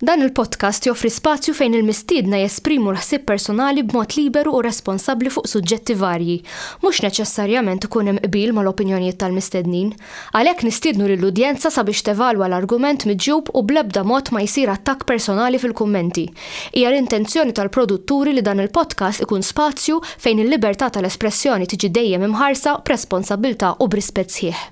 Dan il-podcast joffri spazju fejn il-mistiedna jesprimu l-ħsieb personali b'mod liberu u responsabbli fuq suġġetti varji. Mhux neċessarjament ikun hemm qbil mal-opinjonijiet tal-mistednin. Għalhekk nistiednu lill-udjenza sabiex tevalwa l-argument miġjub u bl-ebda mod ma jsir attakk personali fil-kummenti. Hija l-intenzjoni tal-produtturi li dan il-podcast ikun spazju fejn il-libertà tal-espressjoni tiġi dejjem imħarsa b'responsabbiltà u b'rispett sħiħ.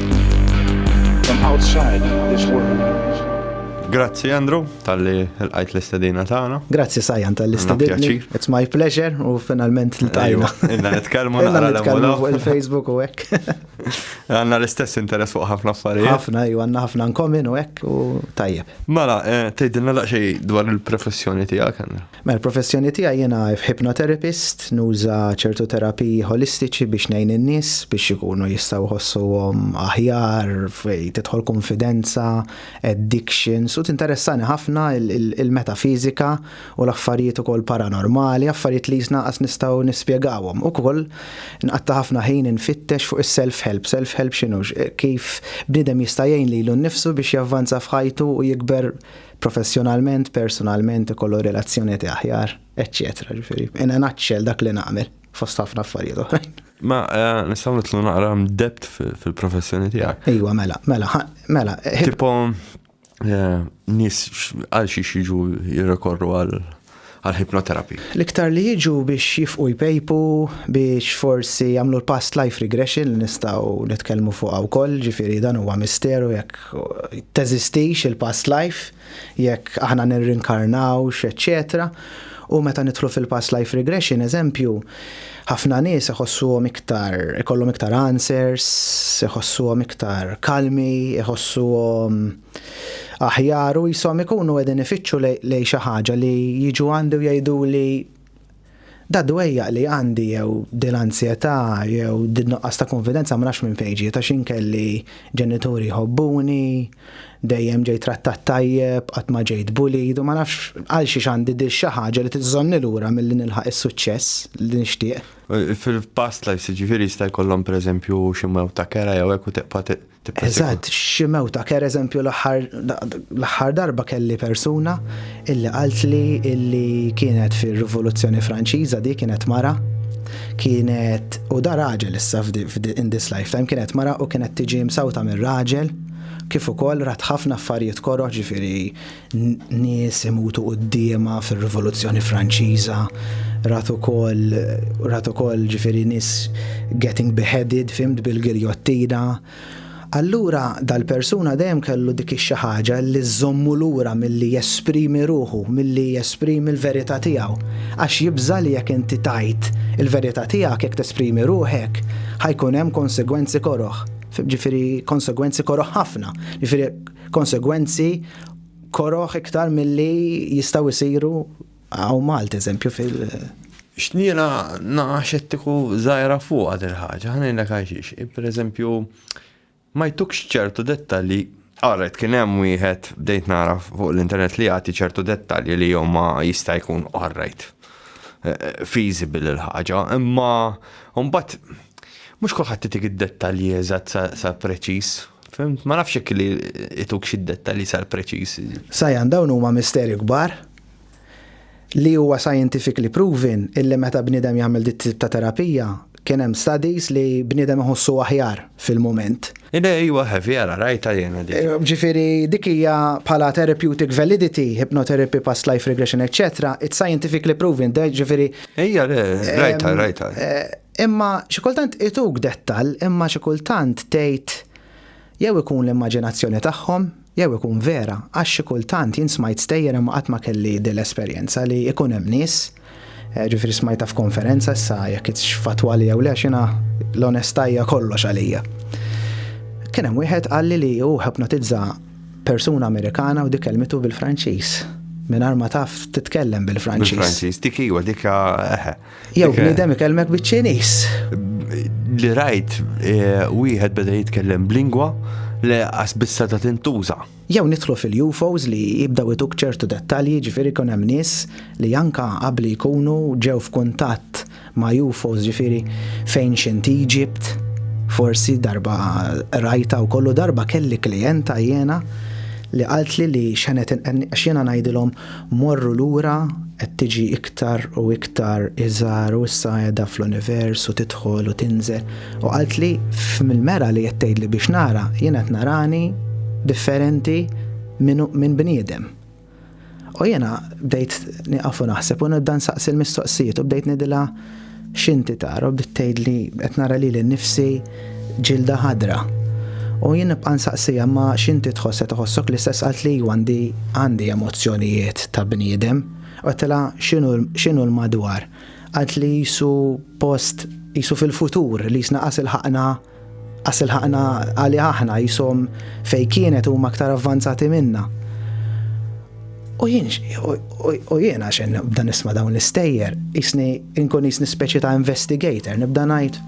Grazzi Andrew tal-li l-għajt l-istedina tagħna. Grazzi Sajan tal-li stedini. It's my pleasure u finalment l-tajna. Inna nitkellmu naqra l-emmuna. fuq il-Facebook u hekk. Għanna l-istess interess fuq ħafna affarijiet. Ħafna, ju għanna ħafna nkomin u hekk u tajjeb. Mela, eh, tgħidilna daqsxejn dwar il-professjoni tiegħek. Mela l-professjoni tiegħi jiena hypnotherapist, nuża ċertu terapiji ħolistiċi biex ngħin in-nies biex ikunu jistgħu jħossuhom aħjar, tidħol kunfidenza, addictions u tinteressani ħafna il-metafiżika u l-affarijiet ukoll paranormali, affarijiet li qisna qas nistgħu nispjegawhom. Ukoll nqatta' ħafna ħin infittex fuq is-self-help. Self-help x'inhu? Kif bniedem jista' jgħin lilu nnifsu biex javvanza f'ħajtu u jikber professjonalment, personalment, ikollu relazzjonijiet aħjar, eċċetera. Ġifieri, in a nutshell dak li nagħmel fost ħafna affarijiet oħrajn. Ma eh, nistgħu nitlu naqra debt fil-professjoni tiegħek. Ejwa, mela, mela, mela. Eh, tipo eh, nis għal xi jiġu jirrekorru għal għall-hypnotherapy. L-iktar li jiġu biex jifqu jpejpu, biex forsi jagħmlu l-past life regression li nistgħu nitkellmu fuqha wkoll, ġifieri dan huwa misteru jekk teżistix il-past life, jekk aħna nirrinkarnawx, eċċetera U meta nidħlu fil-past life regression, eżempju, ħafna nies iħossuhom iktar, ikollhom iktar answers, iħossuhom iktar kalmi, iħossuhom Aħjar u qishom ikunu qegħdin ifittxu lejn xi ħaġa li jiġu għandi u jgħiduli dad-dwejjaq li għandi jew dil-anzjetà jew din-nuqqas ta' kunfidenza ma nafx minn fejn ġiet għax jien kelli ġenituri jħobbuni, dejjem ġejt trattat tajjeb, qatt ma ġejt bullied u ma nafx għalxiex għandi dil xi ħaġa li tiżżomni lura milli nilħaq is-suċċess li nixtieq. Fil-past lives jiġifieri jista' jkollhom pereżempju xi mewt ta' kera jew hekk u tibqa' Eżatt, xi mewta, per eżempju l-aħħar darba kelli persuna illi qalt li illi kienet fir-Rivoluzzjoni Franċiża di kienet mara, kienet u da raġel issa in this lifetime kienet mara u kienet tiġi msawta mir-raġel kif ukoll rat ħafna affarijiet koroħ ġifieri nies imutu quddiema fir-Rivoluzzjoni Franċiża, rat ukoll rat ukoll ġifieri nies getting beheaded fimt bil-giljottina. Allura dal-persuna dejjem kellu dik ix-xi ħaġa li żżommu lura milli jesprimi ruħu, milli jesprimi l-verità tiegħu. Għax jibża' li jekk inti tgħid il-verità tiegħek jekk tesprimi ruħek, ħajkun hemm konsegwenzi koroh. Ġifieri konsegwenzi koroh ħafna. Ġifieri konsegwenzi koroh iktar milli jistgħu jsiru hawn Malta eżempju fil- X'niela naqa' xettiku żgħira fuqha din il-ħaġa, ħa ngħidlek għal xiex. Pereżempju, ma jtukx ċertu dettalji Qaret kien hemm wieħed bdejt nara fuq l-internet li jagħti ċertu dettalji li jew ma jista' jkun qarrejt eh, eh, feasible il-ħaġa, imma mbagħad mhux kulħadd titik id-dettalji eżatt sa preċiż Fimt, ma nafx jekk li ituk xi dettalji sar preċiż. Sajan dawn huma misteri kbar li huwa scientifically proven illi meta bniedem jagħmel dit tip ta' terapija kien hemm studies li bniedem iħossu aħjar fil-mument. Ida iwa heavy ara rajta jiena di. Eh, ġifieri dik hija bħala therapeutic validity, hypnotherapy, past life regression, etc. It's scientifically proven, ġifieri. Ejja, rajta, rajta. Eh, Imma xi kultant ituk dettall imma xi kultant tgħid jew ikun l-immaġinazzjoni tagħhom jew ikun vera għax xi kultant jien smajt stejjer imma qatt ma kelli din l-esperjenza li jkun hemm nies, ġifieri smajtha f'konferenza issa jekk hitx fattwali jew le għax jiena l-onestà hija kollox għalija. Kien hemm wieħed qalli li hu ħipnotizza persuna Amerikana u dik kelmitu bil-Franċiż mingħajr ma taf titkellem bil-Franċiż. Bil-Franċiż, dik iwa, dik eħe. Eh, Jew bniedem ikellmek biċ-Ċiniż. Li rajt eh, wieħed beda jitkellem b'lingwa li qas bissa ta' tintuża. Jew nidħlu fil-UFOs li jibdaw ituk ċertu dettalji, ġifieri kun hemm nies li anka qabli jkunu ġew f'kuntatt ma' UFOs ġifieri fejn xint Egypt, forsi darba rajta u kollu darba kelli klijenta jiena li qaltli li xenet għax jiena ngħidilhom Morru lura qed tiġi iktar u iktar iżgħar u issa qiegħda fl-univers u tidħol u tinżel u qaltli f'mill-mera li qed tgħidli biex nara jien qed narani differenti minn min bniedem. U jiena bdejt nieqaf u naħseb u nibda nsaqsi l-mistoqsijiet u bdejt ngħidilha X'inti tara bdiet tgħidli qed nara lili nnifsi ġilda ħadra. U jien nibqa' nsaqsiha imma x'inti tħoss qed iħossok l-istess qaltli iwa għandi għandi emozzjonijiet ta' bniedem. Għedtilha x'inhu x'inhu l-madwar? Qaltli qisu post qisu fil-futur li qisna qas ilħaqna Qas ilħaqna għalih aħna jisom fej kienet huma aktar avvanzati minna. U jien, u jien għax nibda nisma' dawn l-istejjer, jisni inkun jisni speċi ta' investigator, nibda ngħid.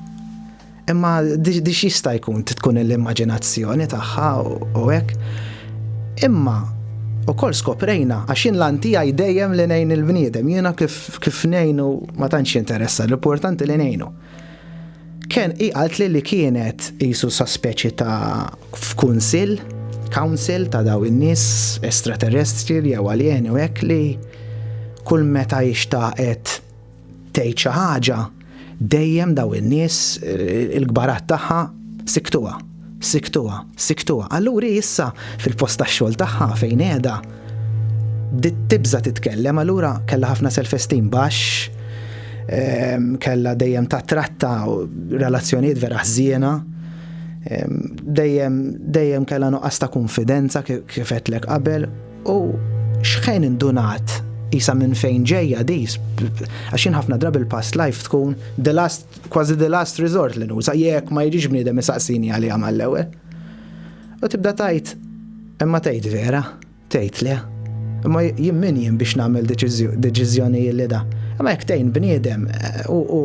Imma dix jista' jkun tkun l-immaġinazzjoni tagħha u hekk. Imma u kol skoprejna għax jien l-antija jdejjem li nejn il-bniedem, jiena kif nejnu ma tantx interessa, l-importanti li nejnu. Kien hi qaltli li kienet qisu sa speċi ta' f'kunsill, council, ta' dawn in-nies estraterrestri jew aljeni u hekk li kull meta hi xtaqet tgħid xi ħaġa dejjem dawn in-nies il-kbarat tagħha siktuha. Sikktuha, sikktuha. Allura hi issa fil-post tax-xogħol tagħha fejn qiegħda bdiet tibża' titkellem, allura kellha ħafna self-esteem baxx, ehm, kellha dejjem tattratta relazzjonijiet vera ħżiena, ehm, dejjem dejjem kellha nuqqas ta' kunfidenza kif qedlek qabel u xħen indunat isa minn fejn ġejja dis, għaxin ħafna drabi l-past life tkun the last kważi the last resort li nuża jekk ma jiġix bniedem isaqsini għaliha mal-ewwel. U tibda tajt, imma tgħid vera, tgħid le. Imma jien min jien biex nagħmel deċiżjoni li da. Imma jekk tgħin bniedem eh, u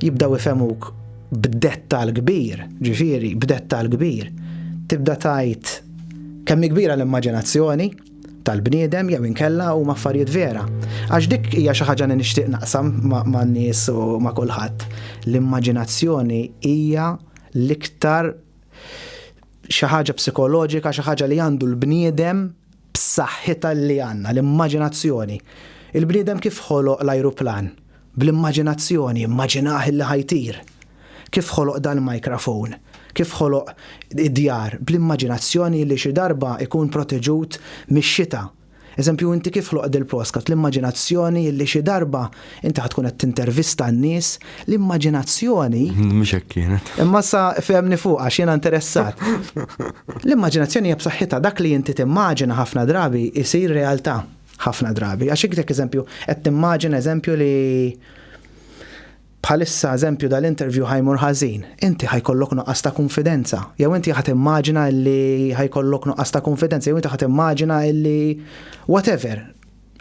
jibdaw ifemuk b'dettal kbir, ġifieri b'dettal kbir, tibda tajt kemm kbira l-immaġinazzjoni, tal-bniedem jew inkella huma affarijiet vera. Għax dik hija xi ħaġa li nixtieq naqsam man nies u ma' kulħadd. L-immaġinazzjoni hija l-iktar xi ħaġa psikoloġika, xi ħaġa li għandu l-bniedem b'saħħitha li għandna, l-immaġinazzjoni. Il-bniedem kif ħoloq l-ajruplan? Bl-immaġinazzjoni, immaġinah illi ħa jtir. Kif ħoloq dal-microphone? Kif ħoloq id-djar? Bl-immaġinazzjoni illi xi darba ikun proteġut mix-xita. Eżempju, inti kif ħloqt dil-postkat? L-immaġinazzjoni illi xi darba inti ħa tkun qed tintervista n-nies. L-immaġinazzjoni. Mhux hekk kienet. Imma sa fehmni fuq għax jiena interessat. L-immaġinazzjoni hija b'saħħitha dak li inti timmaġina ħafna drabi jsir realtà. Ħafna drabi. Għax iktek eżempju, qed timmaġina eżempju li bħalissa eżempju dal-interview ħajmur ħażin, inti ħajkollok nuqqas ta' konfidenza. Jew inti ħat immaġina li ħajkollok nuqqas ta' konfidenza, jew inti ħat immaġina li whatever.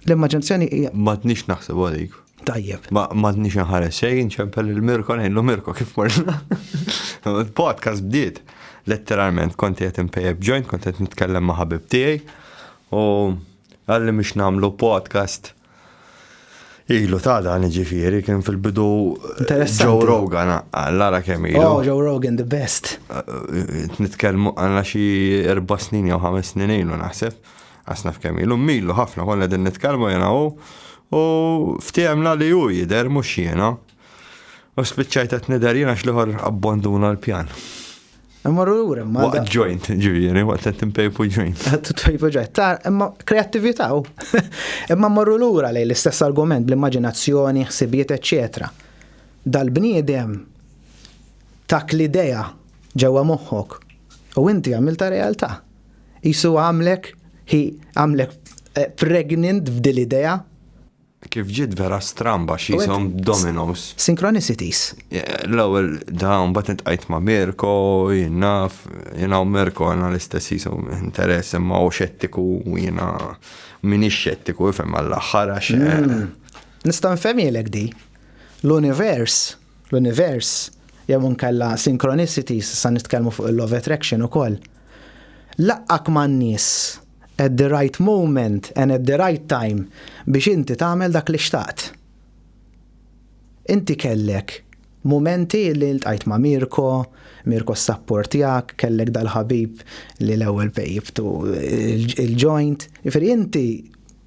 L-immaġinazzjoni hija. Ma tnix naħseb għalik. Tajjeb. Ma tnix nħares xejn ċempel il-Mirko ngħidlu Mirko kif morna. Podcast bdiet. Letteralment konti qed impejjeb ġojn, konti qed nitkellem ma' ħabib tiegħi U għalli mhux nagħmlu podcast ilu ta' dan ġifieri kien fil-bidu Joe Rogan għallara kemm ilu. Oh, Joe Rogan the best. Nitkellmu għandna xi erba' snin jew ħames snin ilu naħseb. Għasna f'kemm ilu milu ħafna konna din nitkellmu jena u u ftehemna li hu jidher mhux jiena. U spiċċajt qed nidher jien għax l-ieħor abbonduna l-pjan. Immorru lura, ma. Waqt joint, ġifieri, waqt qed timpejpu joint. Qed timpejpu joint. Ta' imma kreattività u. Imma mmorru lura lejn l-istess argument bl-immaġinazzjoni, ħsibijiet, eċċetera. Dal-bniedem tak l-idea ġewwa moħħok u inti għamilta realtà. Isu għamlek, hi għamlek eh, pregnant f'dil idea Kif ġiet vera stramba xi jisom Domino's. Synchronicities. L-ewwel da mbagħad intqajt ma' Mirko, jien naf, jiena u Mirko għandna l-istess jisom interess imma hu xettiku u jiena minix xettiku ifhem għall-aħħar għax. Hmm. Nista' nfehmielek di. L-univers, l-univers, jew inkella synchronicities sa nitkellmu fuq il-law of attraction ukoll. Laqqak man-nies. at the right moment and at the right time biex inti tagħmel dak li xtaqt. Inti kellek mumenti li ltqajt ma' Mirko, Mirko ssapportjak, kellek dal-ħabib li l-ewwel pejjibtu il-joint. Jifieri inti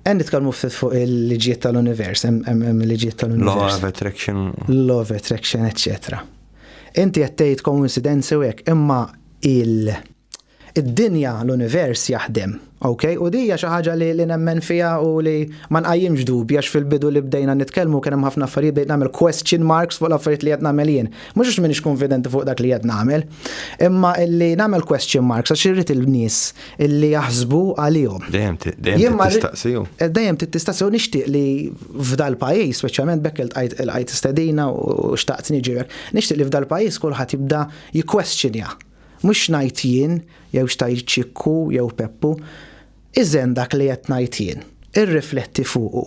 Għan nitkellmu ftit fuq il-liġijiet tal-univers, hemm il-liġijiet tal-univers. Law of attraction. Law of attraction, etc. Inti qed tgħid koincidenzi u hekk, imma il- id-dinja l-univers jaħdem, ok? U dija xi ħaġa li, li nemmen fiha u li ma nqajjimx dubja fil-bidu li bdejna nitkellmu kien hemm ħafna affarijiet bdejt nagħmel question marks fuq l-affarijiet li qed nagħmel jien. Mhux għax m'iniex konfidenti fuq dak li qed nagħmel, imma li nagħmel question marks għax irrid il-nies illi jaħsbu għalihom. Dejjem tistaqsiju. Eh, dejjem tistaqsiju nixtieq li f'dal pajjiż, speċjalment bekk il-qajt stedina u xtaqt niġirek, nixtieq li f'dal pajjiż kulħadd jibda jikkwestjonja. Mhux ngħid jien, jew xtajt ċikku, jew peppu, iżen dak li qed ngħid jien, irrifletti fuqu.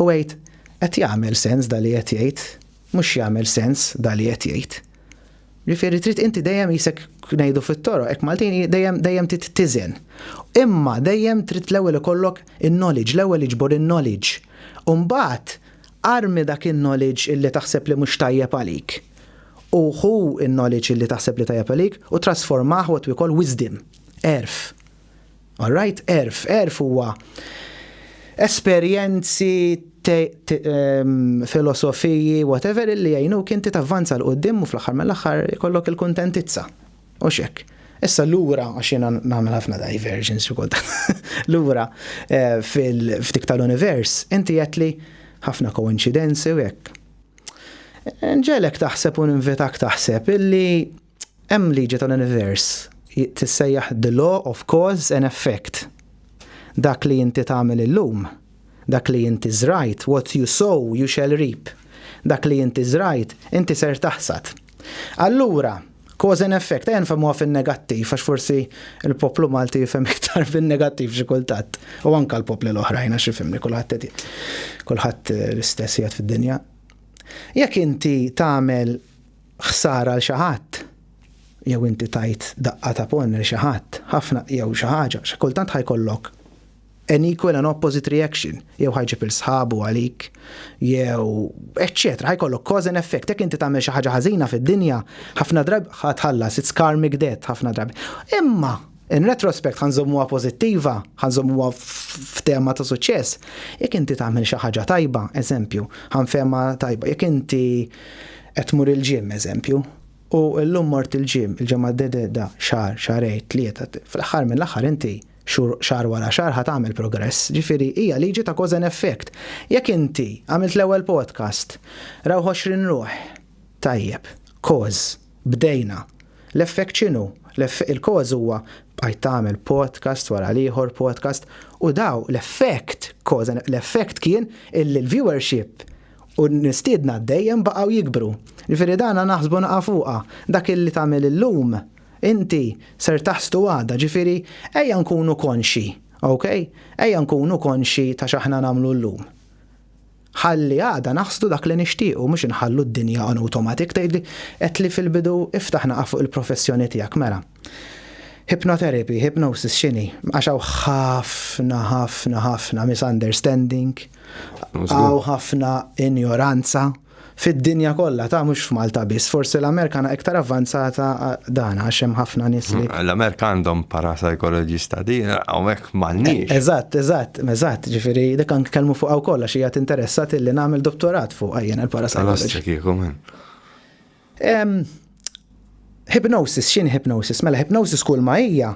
U għid, qed jagħmel sens dal li qed jgħid, mhux jagħmel sens dal li qed jgħid. Ġifieri trid inti dejjem isek ngħidu fit-toroq, hekk Maltin dejjem dejjem tittiżen. Imma dejjem trid l-ewwel ikollok in-knowledge, l-ewwel iġbor in-knowledge. U mbagħad armi dak in-knowledge illi taħseb li mhux tajjeb għalik. U ħu in-knowledge illi taħseb li tajjeb għalik u trasformah what we call wisdom, għerf. Alright, erf, erf huwa esperjenzi, ehm, filosofiji, whatever illi jgħinuk inti tavvanza l qudiem u fl-aħħar mill-aħħar ikollok il-kuntentizza. U xek. Issa lura għax jiena nagħmel ħafna diversions xi Lura eh, fil-ftik tal-univers, inti qed li ħafna koincidenzi u hekk. Nġelek taħseb u ninvitak taħseb illi Hemm liġi tal-univers tissejjaħ the law of cause and effect. Dak li inti tagħmel illum, dak li inti żrajt, what you sow you shall reap, dak li inti żrajt, inti ser taħsad. Allura, cause and effect, ejja nfehmuha fin-negattiv għax forsi l-poplu Malti jifhem iktar fin-negattiv xi kultant, u anke l-popli l-oħrajn għax ifhimni kulħadd qed kulħadd l-istess qiegħed fid-dinja. Jekk inti tagħmel ħsara għal xi ħadd, jew inti tajt daqqa ta' ponn lil xi ħadd, ħafna jew xi ħaġa, xi kultant ħa jkollok an equal and opposite reaction, jew ħa jġib 'il sħabu għalik, jew eċċetera, ħa jkollok cause and effect, jekk inti tagħmel xi ħaġa ħażina fid-dinja, ħafna drabi ħa tħallas, it's karmic debt ħafna drabi. Imma In retrospect ħa nżommuha pożittiva, ħa nżommuha f'tema ta' suċċess, jekk inti tagħmel xi ħaġa tajba, eżempju, ħa nfehmha tajba, jekk inti qed tmur il-gym, eżempju, u llum mort il-gym, il-ġimgħa d-dehda, xahar, xahrejn, tlieta, fl-aħħar mill-aħħar inti xahar wara xahar ħa tagħmel progress, ġifieri hija liġi ta' cause and effect. Jekk inti għamilt l-ewwel podcast, rawh 20 ruħ, tajjeb, cause, Bdejna. L-effekt x'inhu? L-eff, il-cause huwa bqajt tagħmel podcast wara l-ieħor podcast u daw l-effect, cause and l-effect kien illi l-viewership u l-mistiedna dejjem baqgħu jikbru. Ġifieri dana naħsbu naqa' fuqha. Dak illi tagħmel illum inti ser taħsdu għada, ġifieri ejja nkunu konxji, okay? Ejja nkunu konxji ta' x'aħna nagħmlu llum. Ħalli għada naħsdu dak li nixtiequ mhux inħallu d-dinja on automatic tgħidli għedtli fil-bidu iftaħ naqaf fuq il-professjoni tiegħek mela. Hypnotherapy, hypnosis x'inhi? Għax hawn ħafna ħafna ħafna misunderstanding, hawn ħafna injoranza fid-dinja kollha ta' mhux f'Malta biss, forsi l-Amerika na iktar avvanzata dan għax hemm ħafna nies li. L-Amerika għandhom parapsychologist ta' din, hawnhekk jekk m'għandniex. Eżatt, eżatt, eżatt, ġifieri dik anke kelmu fuqha wkoll għax hija tinteressat illi nagħmel dottorat fuqha jien il-parapsychology. kieku minn. Hypnosis, x'inhi hypnosis? Mela hypnosis kull ma hija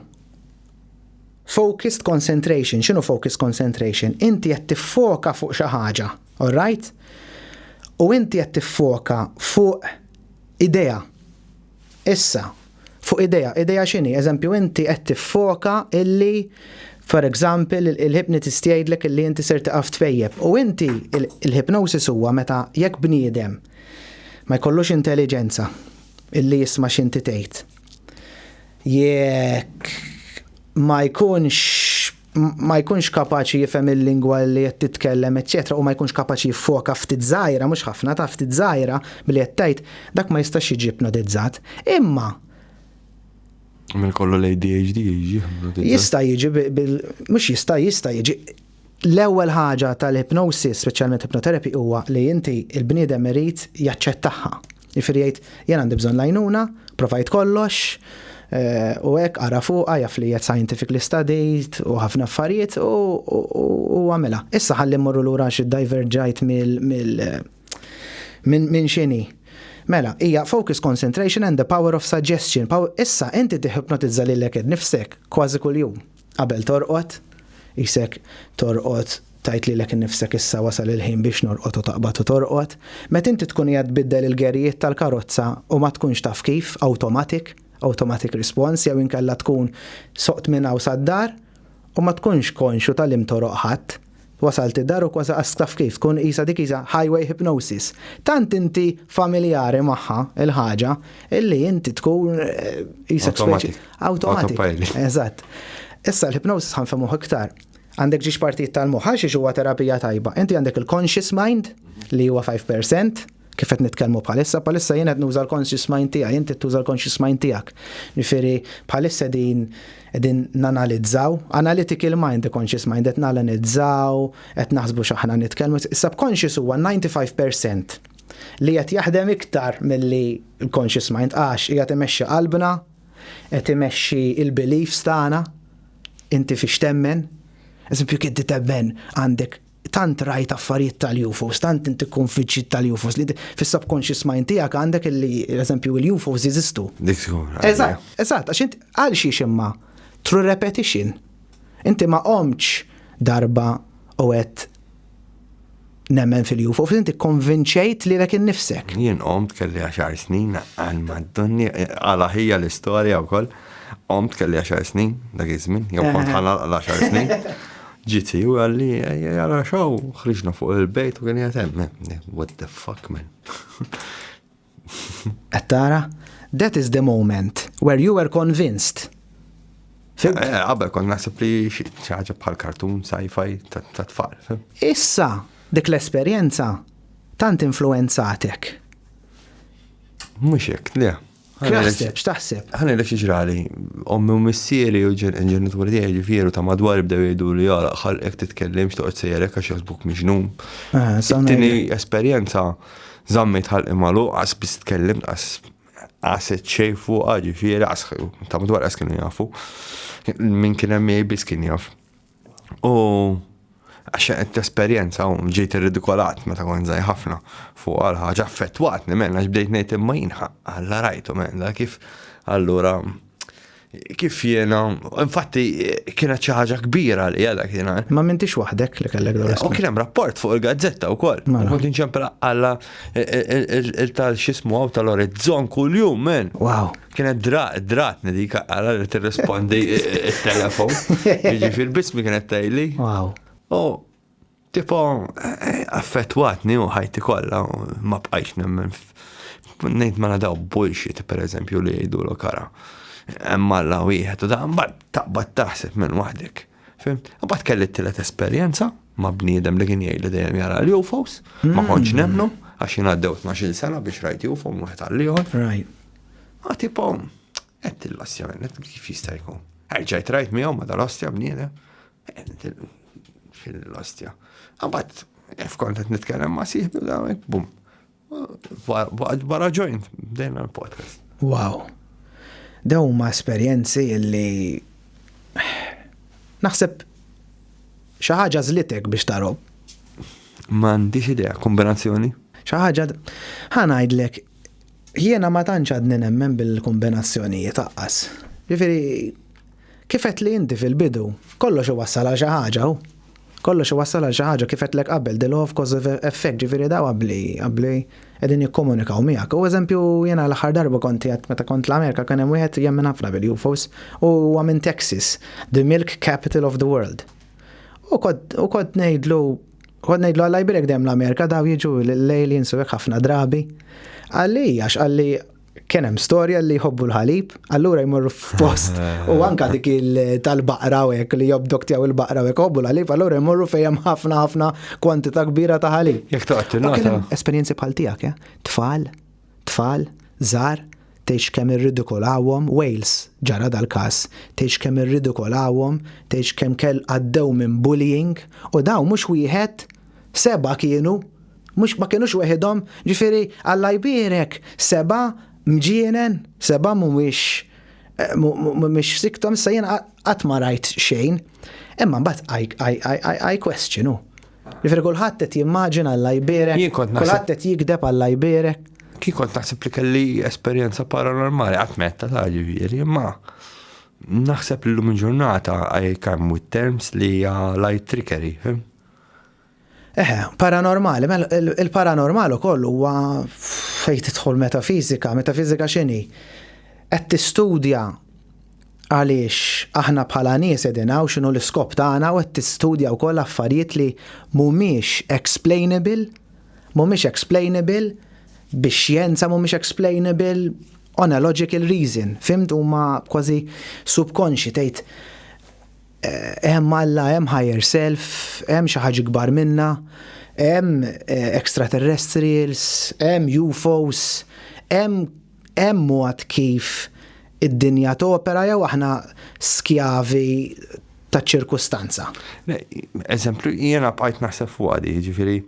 focused concentration, x'inhu focused concentration? Inti qed tiffoka fuq xi ħaġa, all right? U inti qed tiffoka fuq idea Issa, fuq idea, idea x'inhi? Eżempju, inti qed tiffoka illi for example il-hypnotist jgħidlek illi inti ser tiqaf tpejjep u inti il-hypnosis huwa meta jekk bniedem ma jkollux intelliġenza illi jisma' x'inti tgħid. Jekk ma jkunx ma jkunx kapaċi jifhem il-lingwa li qed titkellem, eċċetera, u ma jkunx kapaċi jiffoka ftit żgħira, mhux ħafna, ta' ftit żgħira billi qed tgħid, dak ma jistax jiġi ipnotizzat. Imma Minn kollu l-ADHD jiġi ipnotizzat. Jista' jiġi bil mhux jista' jista' jiġi l-ewwel ħaġa tal-hypnosis, speċjalment hypnotherapy huwa li inti il-bniedem irid jaċċettaha. Jifieri jgħid, jien għandi bżonn l-għajnuna, provajt kollox, eh, u hekk qara fuqha jaf li qed scientific li stadijt u ħafna affarijiet u għamela. Issa ħalli mmorru lura xi diverġajt mill minn xini. Mela, hija focus concentration and the power of suggestion. Issa inti tiħipnotizza lilek nifsek kważi kuljum. Qabel torqod, qisek torqod tgħid lilek innifsek issa wasal il-ħin biex norqod u taqbad u torqod. Meta inti tkun qiegħed tbiddel il-gerijiet tal-karozza u ma tkunx taf kif, awtomatik, automatic response, jew inkella tkun soqt minn hawn sad-dar u ma tkunx konxju ta' li mtoroq ħadd, Wasalt id-dar u kważi qastha f'kif, tkun qisha dik hija highway hypnosis. Tant inti familjari magħha l-ħaġa illi inti tkun qisek speċi. Awtomati. Awtomati. Eżatt. Issa l-hypnosis ħanfemuh iktar. Għandek ġiex partijiet tal-moħħ għax huwa terapija tajba. Inti għandek il-conscious mind li huwa 5%, kif qed nitkellmu bħalissa, bħalissa jien qed nuża l-conscious mind tiegħi, inti tuża l-conscious mind tiegħek. Jifieri bħalissa din qegħdin nanalizzaw, analytical mind, conscious mind, qed nanalizzaw, qed naħsbu x'aħna nitkellmu. Subconscious huwa 95% li qed jaħdem iktar milli l-conscious mind għax hija timexxi qalbna, qed imexxi il-beliefs tagħna, inti fiex temmen, eżempju kif temmen għandek tant rajt affarijiet tal-UFOs, tant inti tkun fiċċit tal-UFOs li fis-subconscious mind tiegħek għandek li eżempju il-UFOs jeżistu. Eżatt, eżatt, għax int għal xiex imma through repetition. Inti ma qomċ darba u għed nemmen fil-UFO, inti konvinċejt li l innifsek. Jien qomt kelli għaxar snin għal maddonni għal ħija l-istorja u koll. Omt kelli 10 snin, dak iż-żmien, jew kont ħanalqa l-10 snin. Ġiti u għalli, għara xaw, ħriġna fuq il-bejt u għalli għatem, what the fuck, man. Għattara, that is the moment where you were convinced. Eh, eh, għabel kon nasib li xaġa bħal kartun, sci-fi, ta' tfal. Issa, dik l-esperienza, tant influenzatek. Mux jek, le. X'taħseb, x'taħseb? Ħana jilek xieġrali, ommi u missieri u ġenituri tiegħi ġifieru ta' madwar bdew jgħidu li jara ħal ek titkellimx toqgħod sejjerek għax jaħsbuk miġnum. Ah, Tini esperjenza zammit ħal imalu għas bis tkellim għas għas ċej fuq ġifieri għas ta' madwar għas kienu jafu. Min kien hemm jgħid biss kien jaf. U għax qed tesperjenza u ġejt irridikolat meta kont żgħir ħafna fuq għal ħaġa affettwatni minn għax bdejt ngħid imma jien alla rajtu minn kif allura kif jiena, infatti kienet xi ħaġa kbira li għadha kiena. Ma m'intix waħdek li kellek dawra. U kien hemm rapport fuq il-gazzetta wkoll. Mela. Kont inċempel alla il-tal xismu għaw tal-orizzon kuljum, men. Wow. Kienet dratni dik għara li tirrispondi il-telefon. Ġifir bismi kienet tajli. Wow. U tipo affettwatni u ħajti kollha ma bqajx nemmen. Nejt ma nadaw bullshit per eżempju li jgħidu l kara. Emma la wieħed u da mbagħad taqbad taħseb minn waħdek. Fim? Mbagħad kelli t-tielet esperjenza. ma' bniedem li kien jgħid li dejjem jara l-UFOs, ma kontx mm. nemnu, għax jien għaddew 12 sena biex rajt UFO minn wieħed għall-ieħor. Right. Ma tipo, qed il-lastja minn kif jista' jkun. Erġajt rajt miegħu ma dal-ostja bniedem. Fil-lastja. Għabat, fkont qed nitkellem ma' sieħbi u bum. Barra ġojn, bdejna l-podcast. Wow. Daw ma esperjenzi li naħseb xi ħaġa żlitek biex tarom. M'għandix idea, kombinazzjoni. Xi ħaġa ħanajdlek jiena ma tantx għadni nemmen bil-kombinazzjonijiet aqqas. Ġifieri kifet li inti fil-bidu kollox iwassal għal xi ħaġa Kollox iwassal għal xi ħaġa, kif għedtlek qabel, the law of cause effect, ġifieri dawn abbli, abbli, qegħdin jikkomunikaw miegħek. U eżempju, jiena l-aħħar darba kont qiegħed meta kont l-Amerika kien hemm wieħed jemmen ħafna bil-UFOs u huwa minn Texas, the milk capital of the world. U kont u kont ngħidlu kont ngħidlu għal jbirek dejjem l-Amerika daw jiġu l-aliens u hekk ħafna drabi. Għalli għax għalli kien hemm storja li jħobbu l-ħalib, allura jmorru f'post u anka dik tal-baqra u hekk li jobdok tiegħu il-baqra u hekk jħobbu l-ħalib, allura jmorru fejn hemm ħafna ħafna kwantità kbira ta' ħalib. Jekk toqgħod Esperjenzi bħal tiegħek, eh? Tfal, tfal, żar, tgħix kemm irridikolawhom, Wales ġara dal-każ, tgħix kemm irridikolawhom, tgħix kemm kell għaddew minn bullying u daw mhux wieħed Seba' kienu, mhux ma kinux weħidhom, ġifieri Alla jbierek, seba' mġienen, seba' mhumiex mhumiex siktom, issa jien qatt ma rajt xejn. Imma mbagħad I question hu. Ġifieri kulħadd qed jimmaġina Alla jbierek, kulħadd qed jigdeb Alla jbierek. Kien kont naħseb li kelli esperjenza paranormali, qatt metta ta' ġifieri, imma naħseb li llum il-ġurnata I come with terms li hija light trickery, fim? Eħe, paranormali, mela il-paranormal ukoll huwa fejn tidħol metafizika, metafizika x'inhi? Qed tistudja għaliex aħna bħala nies qegħdin hawn x'inhu l-iskop tagħna u qed tistudja wkoll affarijiet li mhumiex explainable, mhumiex explainable bix-xjenza, mhumiex explainable on a logical reason, fimt huma kważi subconsci tgħid Hemm Alla, hemm higher self, hemm xi ħaġa ikbar minna, hemm extraterrestrials, hemm UFOs, hemm hemm mod kif id-dinja topera jew aħna skjavi taċ-ċirkustanza? Le, eżempju, jiena bqajt naħseb fuqha di, jiġifieri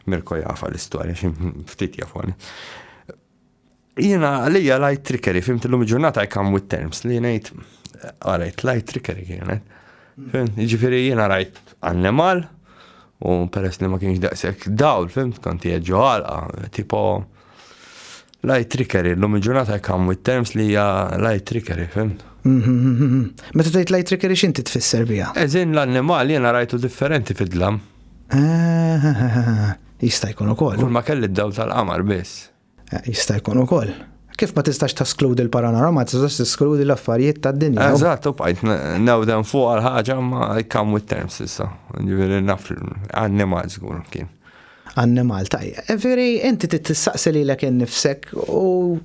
Mirko jafa l-istorja xi ftit jafu. Jiena għalija lajt trickery, fimt illum il-ġurnata I come with terms li ngħid għarajt ah, lajt trickery kienet. Ġifieri jiena rajt annemal u peress li ma kienx daqshekk dawl, fimt kont ġo għalqa, tipo lajt trickery, illum il-ġurnata I come with terms li hija lajt trickery, fimt. Meta tgħid lajt trickery x'inti tfisser biha? Eżin l-annemal jiena rajtu differenti fid-dlam. Ah, jista' jkun ukoll. Ma kelli d-dawl tal-qamar biss. Jista' jkun ukoll. Kif ma tistax taskludi l-paranormal, ma tistax taskludi l-affarijiet tad-dinja. Eżatt, u bqajt nawdem fuq għal ħaġa ma kam with terms issa. Ġifieri naf annimal żgur kien. Annimal tajja. Ġifieri inti tistaqsi lilek innifsek u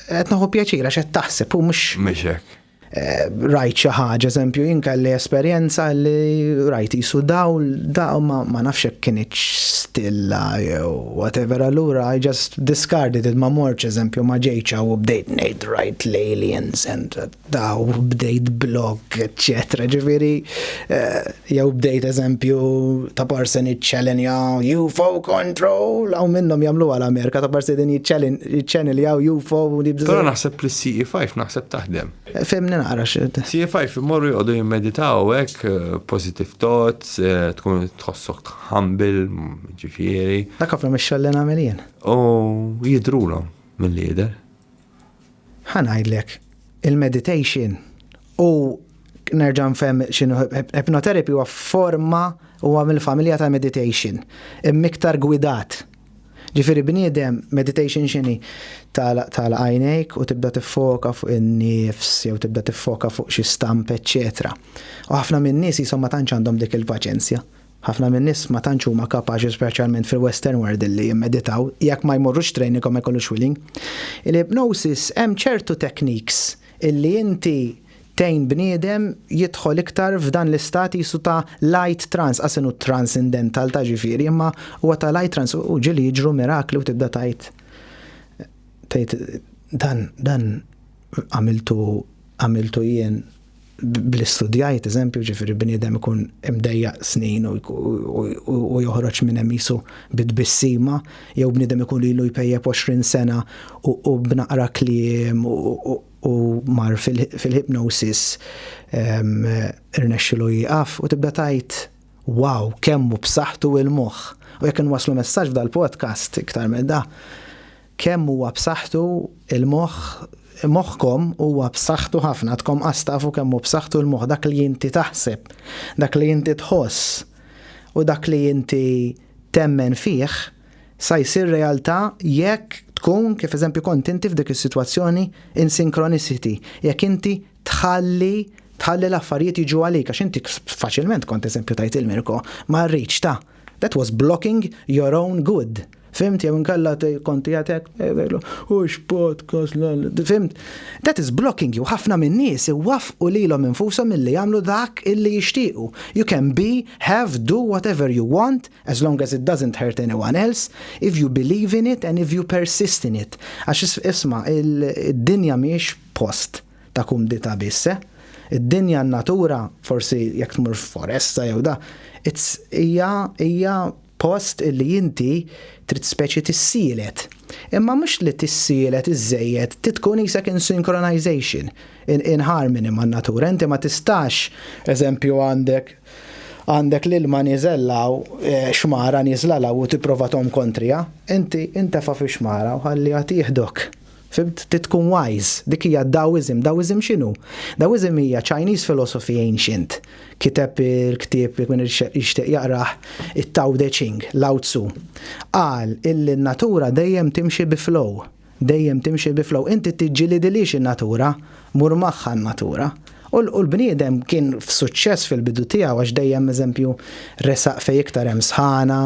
qed naħu pjaċira x'qed taħseb u mhux. Mhux hekk. rajt xi ħaġa, eżempju, jien kelli esperjenza li rajt jisu dawl, daw ma, ma nafx hekk kienet stilla jew whatever, allura I just discarded it ma morċ, eżempju, ma ġejċ u bdejt ngħid rajt l-aliens and daw bdejt blog, etc. Ġifieri, eh, Jew bdejt eżempju ta' parsen jiċċelenja UFO control, hawn minnhom jagħmluha l-Amerika ta' parsen din jiċċeniljaw UFO. Però naħseb li CE5 naħseb taħdem. Fimni naqra xed. CE5 imorru joqogħdu jimmeditaw hekk eh, positive thoughts, eh, tkun tħossok tħambil, ġifieri. Dak ħafna mix-xogħol li nagħmel jien. U jidrulhom mill-lider. Ħa ngħidlek, il-meditation u nerġa' nfhem x'inhu hypnotherapy huwa forma huwa mill-familja ta' meditation, imma iktar gwidat. Ġifieri bniedem meditation x'inhi? Tagħlaq għajnejk u tibda tiffoka fuq in-nifs jew tibda tiffoka fuq xi stamp eċċetera. U ħafna min-nies qishom ma tantx għandhom dik il-paċenzja Ħafna min-nies ma tantx huma kapaċi speċjalment fil-western world illi jimmeditaw jekk ma jmorrux training u ma jkollux willing. Il-hypnosis hemm ċertu techniques illi inti tgħin bniedem jidħol iktar f'dan l-istat qisu ta' light trance, qas inhu transindental ta' ġifieri imma huwa ta' light trance u ġieli jiġru mirakli u tibda tgħid tgħid dan dan għamiltu għamiltu jien bli studjajt, eżempju, ġifiri bniedem ikun imdejja snin u joħroġ minn hemm jisu bid-bissima, jew bniedem ikun lilu jpejjeb 20 sena u b'naqra kliem u mar fil-hypnosis irnexxilu jieqaf u tibda tajt wow, kemmu b'saħħtu il-moħħ. U jekk inwaslu messaġġ dal-podcast iktar minn da, Kemm huwa b'saħħtu l-moħħ Moħħkom huwa b'saħħtu ħafna, għadkom qas tafu kemm hu b'saħħtu l-moħħ dak li inti taħseb, dak li inti tħoss u dak li inti temmen fih sa jsir realtà jekk tkun, kif eżempju kont inti f'dik is-sitwazzjoni, in synchronicity, jekk inti tħalli tħalli l-affarijiet jiġu għalik, għax inti faċilment kont eżempju tajt il-Mirko, ma rridx ta'. That was blocking your own good. Fimt, jew inkella konti għatek, u x-podcast, fimt. That is blocking you, ħafna minn nies iwaf u li l-om infusom mill-li jamlu dak illi jishtiqu. You can be, have, do whatever you want, as long as it doesn't hurt anyone else, if you believe in it and if you persist in it. Għax isma, il-dinja miex post. ta' kumdità biss, eh. Id-dinja, n-natura, forsi jekk tmur f'foresta jew da, it's hija hija post illi inti trid speċi tissielet. Imma mhux li tissielet iżżejjed, trid tkun qisek in synchronization, in, in harmony man-natura. Inti ma tistax, eżempju għandek għandek l-ilma niżellaw eh, xmara niżla law u tipprova tom kontrija, inti intefa fi xmara u ħalli għat jihdok. Fimt? Trid tkun wise. Dik hija Daoism. Daoism x'inhu? Daoism hija Chinese philosophy ancient. Kiteb il-ktieb jekk min jixtieq jaqrah it-Tao De Ching, Lao Tzu. Qal illi n-natura dejjem timxi bi flow. Dejjem timxi bi flow. Inti tiġġilidilhiex in-natura. Mur magħha n-natura. U l-bniedem kien f'suċċess fil-bidu tiegħu għax dejjem eżempju resaq fejn iktar hemm sħana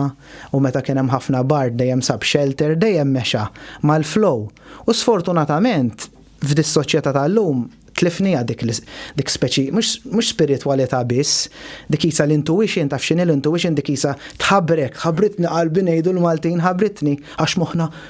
u meta kien hemm ħafna bard dejjem sab shelter, dejjem mexa mal-flow. U sfortunatament f'dis-soċjetà tal-lum tlifniha dik dik speċi mhux mhux spiritwalità biss, dik qisha l-intuition, taf x'inhi l-intuition dik qisha tħabrek, ħabritni qalbi ngħidu l-Maltin ħabritni għax moħħna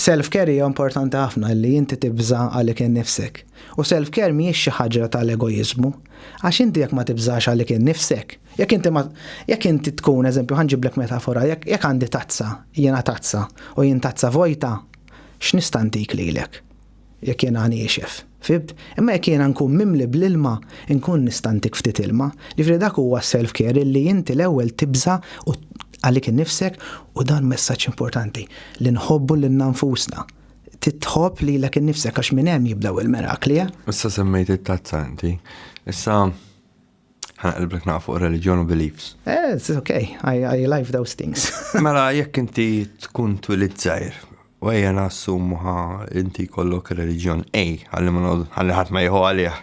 Self-care hija importanti ħafna li inti tibża' għalik innifsek. U self-care mhijiex xi ħaġra tal-egoiżmu. Għax inti jekk ma tibżax għalik innifsek, jekk inti ma, jekk inti tkun, eżempju, ħa nġiblek metafora, jekk, jekk għandi tazza, jiena tazza, u jien tazza vojta, x'nista' ntik lilek? Jekk jiena niexef, fibd, imma jekk jiena nkun mimli bl-ilma, inkun nista' ntik ftit ilma. Jiġifieri dak huwa s-self-care illi inti l-ewwel tibża' u għalik innifsek u dan messaġġ importanti li nħobbu lilna nfusna. Trid tħobb lilek innifsek għax minn hemm jibdew il-mirakli, eh! Issa semmejt it-tazza inti. Issa. Ħana qilblek naqaf fuq religion u beliefs. Eh, it's okay, I, I live those things. mela, jekk inti tkun twilid zaħir, u għajja nassum ħa inti kollok religion A, għalli ma għalli ħat ma jħu għalih.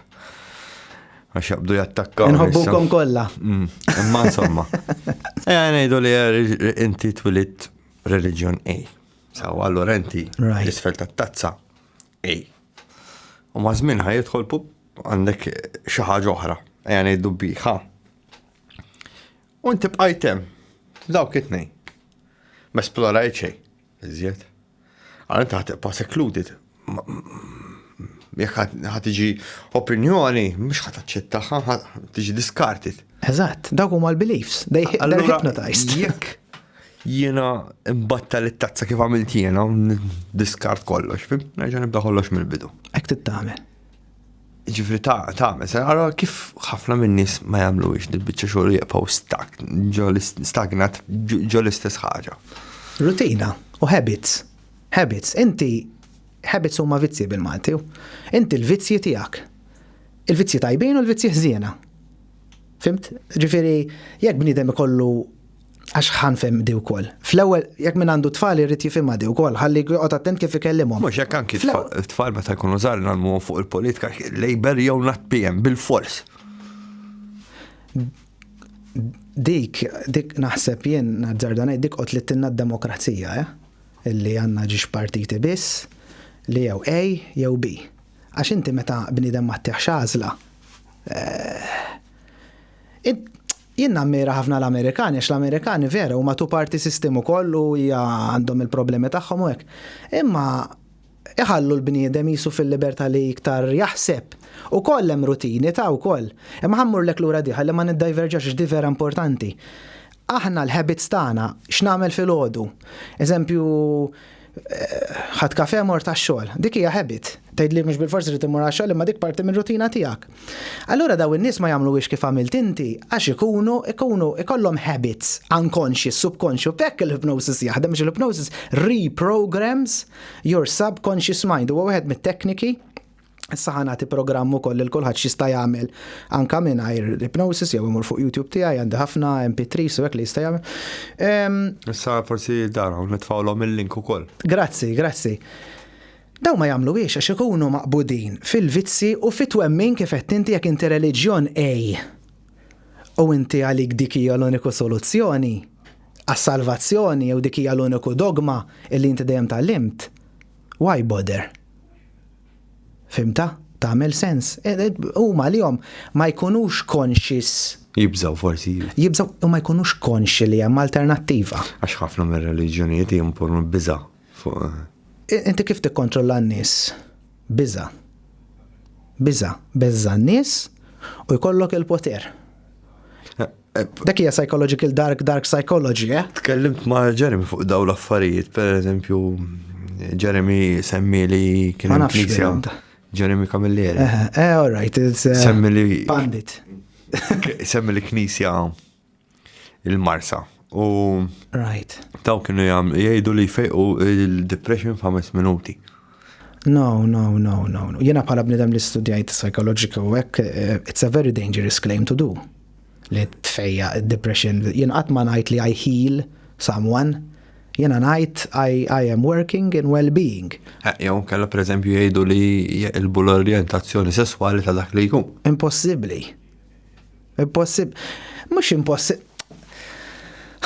Għax jabdu jattakka. Nħobbukom kolla. Mm, imma insomma. Ejja, eh, nejdu li eh, inti twilid religion A. Sawa, allora inti, l-isfel ta' tazza A. U maż-żmien ħa jidħol pup għandek xi ħaġa oħra, ejja ngħidu biħa. U inti bqajt hemm f'dawk it-tnejn. Ma esplorajt xejn, iżjed. Għal inti ħadd tibqa' secluded. Jekk ħadd tiġi opinjoni, mhux ħadd taċċettaha, tiġi diskartit. Eżatt, dawk huma l-beliefs, they hypnotized. Jekk Jiena mbattal it-tazza kif għamilt jiena, diskart kollox, fim, nerġa' nibda kollox mill-bidu. Hekk trid tagħmel. Ġifri ta' tagħmel, se ara kif ħafna min-nies ma jagħmluhiex dil-biċċa xogħol jibqgħu stak, stagnat ġo l-istess ħaġa. Rutina u habits. Habits, inti habits huma vizzji bil-Malti. Inti l-vizzji tiegħek. Il-vizzji tajbin u l-vizzji ħżiena. Fimt? Ġifieri, jekk bniedem ikollu Għax ħanfem di wkoll. Fl-ewwel, jekk min għandu tfal irid jifhimha di wkoll, ħalli joqgħod attent kif ikellimhom. Mhux jekk anki tfal meta jkunu żgħar nagħmluhom fuq il-politika, Labour jew not PM bil-fors. Dik, dik naħseb jien nazzardan dik qod li tinna d-demokrazija, eh? Illi għandna ġiex partiti biss li jew A jew B. Għax inti meta bniedem ma tiħx għażla, eh, Jien nammira ħafna l-Amerikani għax l-Amerikani vera huma two party system ukoll u hija għandhom il-problemi tagħhom u hekk. Imma iħallu l-bniedem qisu fil-libertà li iktar jaħseb. Ukoll hemm rutini ta' wkoll. Imma ħa mmurlek lura di ħalli ma niddajverġax għax di vera importanti. Aħna l-habits tagħna, x'nagħmel filgħodu? Eżempju, ħadd kafe mor tax-xogħol. Dik hija habit. Tgħidli mhux bil-forsi li timmur għax-xogħol imma dik parti mir-rutina tiegħek. Allura daw in-nies ma jagħmluhiex kif għamilt inti għax ikunu ikunu ikollhom habits unconscious, subconscious, bekk il-hypnosis jaħdem biex il-hypnosis reprograms your subconscious mind. Huwa wieħed mit-tekniki Issa ħa nagħti programm ukoll lil kulħadd x'jista' jagħmel anke mingħajr hypnosis jew imur fuq YouTube tiegħi għandi ħafna MP3 u hekk li jista' jagħmel. Ehm, Issa forsi dara nitfgħulhom il-link ukoll. Grazzi, grazzi. Daw ma jagħmlu hiex għax ikunu maqbudin fil-vizzi u fit-twemmin kif qed inti jekk inti reliġjon ej. U inti għalik dik hija l-uniku soluzzjoni għas-salvazzjoni jew dik hija l-uniku dogma illi inti dejjem tallimt. Why bother? Fhimtha? Tagħmel sens? Huma għalihom ma jkunux conscious. Jibżgħu forsi. Jibżgħu u ma jkunux konxi li hemm alternattiva. Għax ħafna mir-reliġjonijiet jimponu biża' fuq. Inti kif tikkontrolla n-nies? Biża'. Biża'. Beżża' n-nies u jkollok il-poter. Dak hija psychological dark dark psychology, eh? Tkellimt ma' Jeremy fuq daw l-affarijiet, per eżempju, Jeremy semmi li kien hemm knisja. Jeremy Camilleri. Eh, eh, eh all right, it's eh, semmi li pandit. semmi li knisja il-Marsa. U right. Taw kienu jgħidu li fejqu il-depression f'ħames minuti. No, no, no, no, no. Jena bħala bnidem li studjajt psikoloġika u hekk, eh, it's a very dangerous claim to do. Li tfejja depression, jena qatt ma ngħid li I heal someone, jena ngħid I, I am working in well-being. Eh, jew kella per eżempju jgħidu li jgħilbu l-orientazzjoni sesswali ta' dak li jkun. Impossibbli. Impossibbli. Mhux impossibbli.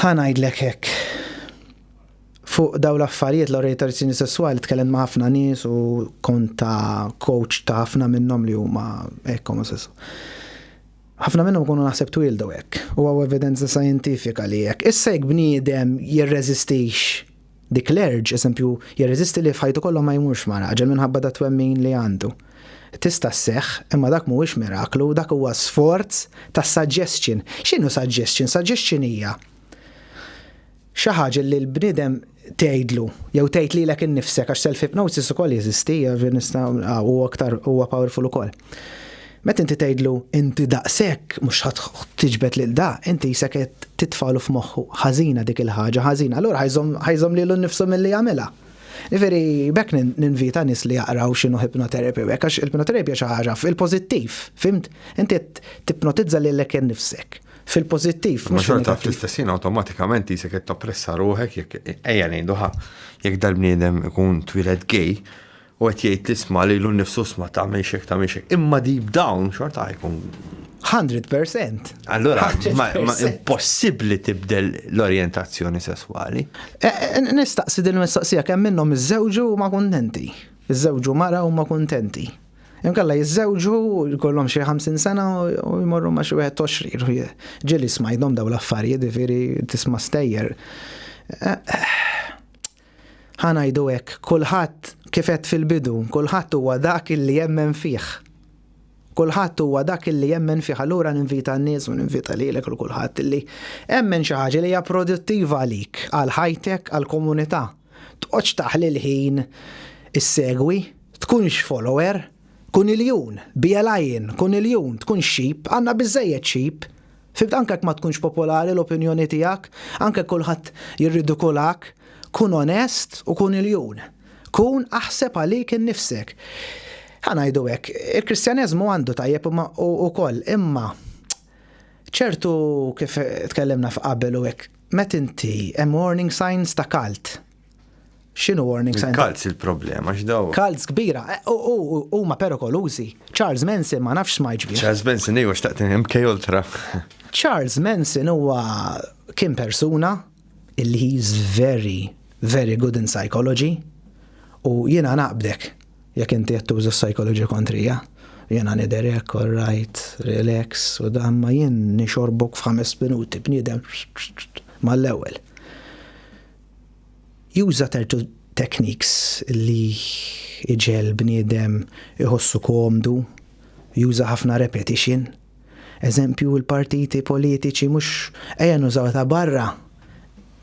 Ħanajdlek hekk Fuq dawn l-affarijiet, l-orjentazzjoni sesswali, tkellimt ma' ħafna nies u kont ta' coach ta' ħafna minnhom li huma hekk omosesswali. Ħafna minnhom ikunu naħseb twieldu hekk u hawn evidenza xjentifika li hekk. Issa jekk bniedem jirreżistix dik l-urge, eżempju, jirreżisti li f'ħajtu kollha ma jmurx ma' raġel minħabba dat-twemmin li għandu. Tista' sseħħ, imma dak mhuwiex miraklu, dak huwa sforz ta' suggestion. X'inhu suggestion? Suggestion hija Xi ħaġa li l-bniedem tgħidlu jew tgħid lilek innifsek għax self-hypnosis ukoll jeżisti, huwa aktar huwa powerful ukoll. Meta inti tgħidlu inti daqs hekk mhux ħadd tiġbed lil da, inti qisek qed titfagħlu f'moħħu ħażina dik il-ħaġa ħażina, allura ħa jżomm ħa jżomm lilu nnifsu milli jagħmilha. Jifieri b'hekk ninvita nies li jaqraw x'inhu hypnotherapy u hekk għax il-hypnotherapy hija xi ħaġa fil-pożittiv, fhimt? Inti qed tipnotizza lilek innifsek. Fil-pozittiv. Ma xorta fl-istessin automatikament jisek qed tappressa ruħek jekk ejja ngħidu ħa jekk dal-bniedem ikun twieled gej u qed jgħid tisma' lilu nnifsu sma' ta' mexek ta' mexek. Imma deep down xorta jkun 100%. Allora, ma, ma impossibbli tibdel l-orientazzjoni sesswali. E, e, nistaqsi din mistoqsija kemm minnhom iżżewġu ma kuntenti. Iżżewġu mara u ma kuntenti. Imkalla jiżżewġu, jkollhom xi 50 sena u jmorru ma' xi wieħed 20. Ġieli smajthom daw l-affarijiet, jiġifieri tisma' stejjer. Ħa ngħidu hekk, kulħadd kif għedt fil-bidu, kulħadd huwa dak illi jemmen fih. Kulħadd huwa dak illi jemmen fih. Allura ninvita n-nies u ninvita lilek u kulħadd illi emmen xi ħaġa li hija produttiva għalik, għal ħajtek, għall-komunità. Tqgħodx taħli l-ħin issegwi, tkunx follower, kun iljun, be a lion, kun iljun, tkun sheep, għandna biżżejjed sheep. Fimt anke jekk ma tkunx popolari l-opinjoni tiegħek, anke jekk kulħadd jirridikulak, kun onest u kun iljun. Kun aħseb għalik innifsek. Ħa ngħidu hekk, il-Kristjaneżmu għandu tajjeb ukoll, imma ċertu kif tkellimna f'qabel u hekk, Met inti, hemm warning signs ta' cult. X'inhu warning signs? Cults il-problema, x'daw? Cults kbira, eh, huma perikolużi. Charles Manson ma nafx smajġ bih. Charles Manson ejwa xtaqt MK Ultra. Charles Manson huwa kien persuna illi he's very, very good in psychology u jiena naqbdek. Jekk inti qed tuża s-psychology kontrija, jiena nidher hekk, all right, relax u dan ma jien nixorbok f'ħames minuti bniedem mal-ewwel. Juża tertu techniques li iġegħel bniedem iħossu komdu, juża ħafna repetition. Eżempju l-partiti politiċi mhux ejja nużaw ta' barra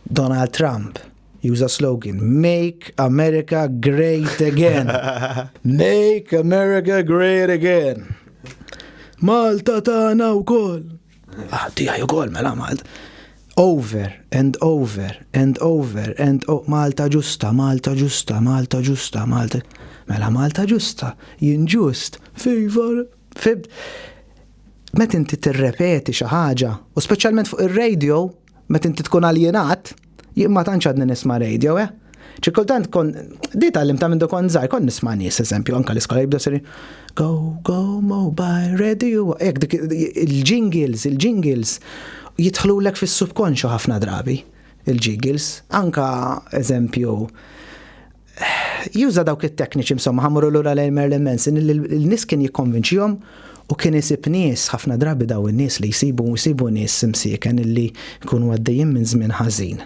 Donald Trump. Juża slogan, Make America Great Again. Make America Great Again. Malta tagħna wkoll. Ah, tiegħi wkoll mela Malta. Over and over and over and oh, Malta ġusta, Malta ġusta, Malta ġusta, Malta. Mela Malta ġusta, jien ġust, favor, fib. Met inti tirrepeti xi ħaġa, u speċjalment fuq ir-radio, Meta inti tkun aljenat, jien ma tantx għadni nisma' radio, eh? Xi kultant kon di tgħallim ta' mindu kont żgħar, kont nisma' nies eżempju anke l-iskola jibda seri go go mobile radio hekk dik il-jingles, il-jingles jidħlulek fis-subkonxju ħafna drabi il-jingles. Anke eżempju juża dawk it-tekniċi insomma ħamru lura lejn Marilyn Manson il-nies kien jikkonvinċihom u kien isib nies ħafna drabi daw in-nies li jsibu jsibu nies imsieken illi jkunu għaddejjin minn żmien ħażin.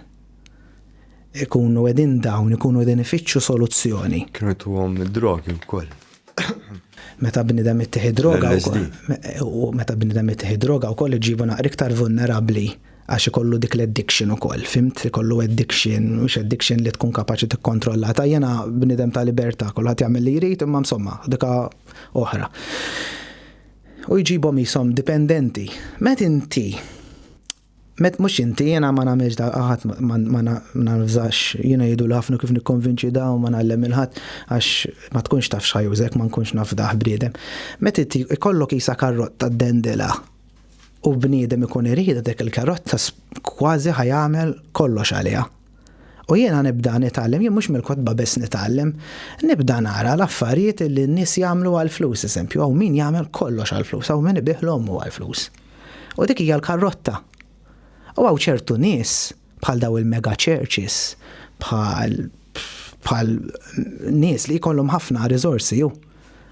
Ikunu qegħdin dawn ikunu qegħdin ifittxu soluzzjoni. Kienu tuhom id-drogi wkoll. meta bnidem ittieħi droga u meta bnidem ittieħi droga wkoll iġibu naqra iktar vulnerabbli għax ikollu dik l-addiction ukoll, fimt ikollu addiction, mhux addiction li tkun kapaċi tikkontrolla. Ta' jena bnidem ta' libertà, kulħadd jagħmel li jrid imma insomma, dika oħra. U jġibhom jisom dipendenti. Met inti Met mhux inti, jiena ma nagħmilx da ħadd ma nafżax, jiena jgħidu ħafna kif nikkonvinċi da u ma ngħallem il-ħadd għax ma tkunx taf x'ħajużek ma nkunx naf dah bniedem. Met inti ikollok qisha karrotta ddendelha u bniedem ikun iridha dik il-karrotta kważi ħa jagħmel kollox għaliha. U jiena nibda nitgħallem, jien mhux mill-kotba biss nitgħallem, nibda nara l-affarijiet li n-nies jagħmlu għall-flus, eżempju, hawn min jagħmel kollox għall-flus, hawn min ibigħ 'l ommu għall-flus. U dik hija l-karrotta. U hawn ċertu nies, bħal dawn il-mega churches, bħal bħal nies li jkollhom ħafna riżorsi ju.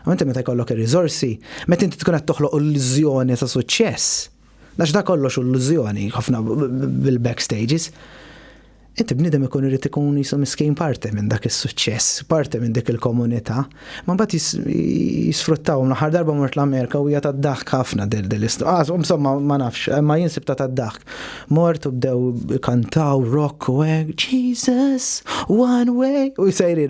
U inti meta jkollok ir-riżorsi, meta inti tkun qed toħloq illużjoni ta' suċċess, Għax da kollox u l-lużjoni, ħafna bil-backstages. Inti bnidem ikun irrit ikun jisu miskin parte minn dak is-suċċess, parte minn dik il-komunità, ma bat jisfruttaw naħar darba mort l-Amerika u hija tad-daħk ħafna del del istqas, ah, insomma ma nafx, ma jinsib ta' tad-daħk. Mort u bdew kantaw rock u hekk, Jesus, one way, u jsejri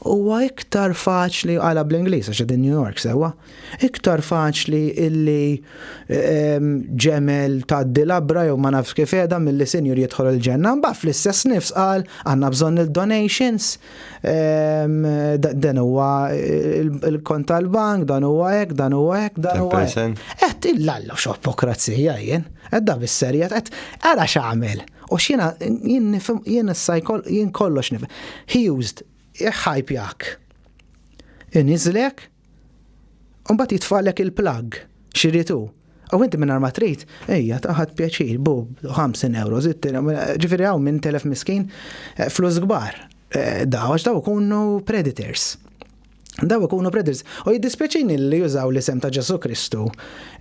Huwa iktar faċli, qalha bl-Ingliż għax qegħdin New York sewwa, iktar faċli illi ġemel tgħaddi labra jew ma nafx kif qiegħda milli sinjur jidħol il-ġenna. Imbagħad fl-istess nifs qal għandna bżonn il-donations, dan huwa l-kont tal-bank, dan huwa hekk, dan huwa hekk, dan huwa hekk. Qed illalla x'opokrazija jien, qed da bis-serjet, qed ara x'għamel. U x'jiena jien nifhem jien issa jien kollox nifhem. He used iħajpjak. Iniżlek u mbagħad jitfalek il-plug xiritu. U inti minn ma trid, ejja taħad pjaċir, bu 50 euro, zittina, ġifiri għaw minn telef miskin, eh, flus gbar, eh, daw, għax daw kunu predators. daw ikunu predils. U jiddispjaċini li jużaw l-isem ta' Ġesu Kristu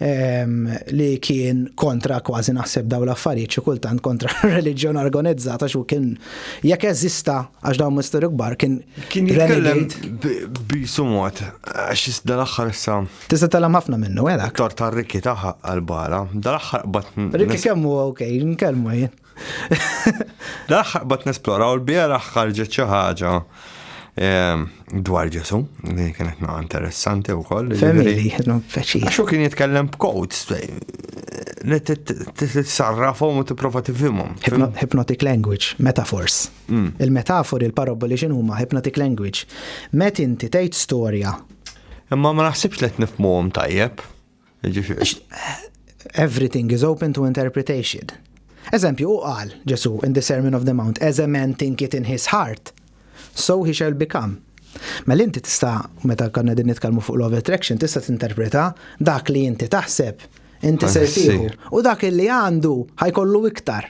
ehm, li kien kontra kważi naħseb daw l-affarijiet xi kultant kontra reliġjon organizzata xu kien jekk eżista għax dawn misteru kbar kien kien jitkellem bisumot għax dal-aħħar sa. Tista' tellem ħafna minnu għedak. Eh, Tor ta' Rikki taħħa għal-bala, dal-aħħar bat. Rikki kemmu ok, nkellmu jien. L-aħħar bat nesplora u l-bieraħ ħarġet xi ħaġa ehm, dwar Ġesu, li kienet ma' interessanti u koll. Family, non feċi. Xo kien jitkellem b'codes, li t-sarrafom u t-prova t-fimom. Hypnotic language, metaphors. Mm. Il-metafori, il-paraboli xinu ma' hypnotic language. Met inti tgħid storja. Imma ma naħsibx li t-nifmuhom tajjeb. Everything is open to interpretation. Eżempju, u qal Ġesu in the Sermon of the Mount, as a man think it in his heart, so he shall become. Mela inti tista' meta konna din nitkellmu fuq love attraction tista' tinterpreta dak li inti taħseb inti ser tieħu u dak li għandu ħajkollu iktar.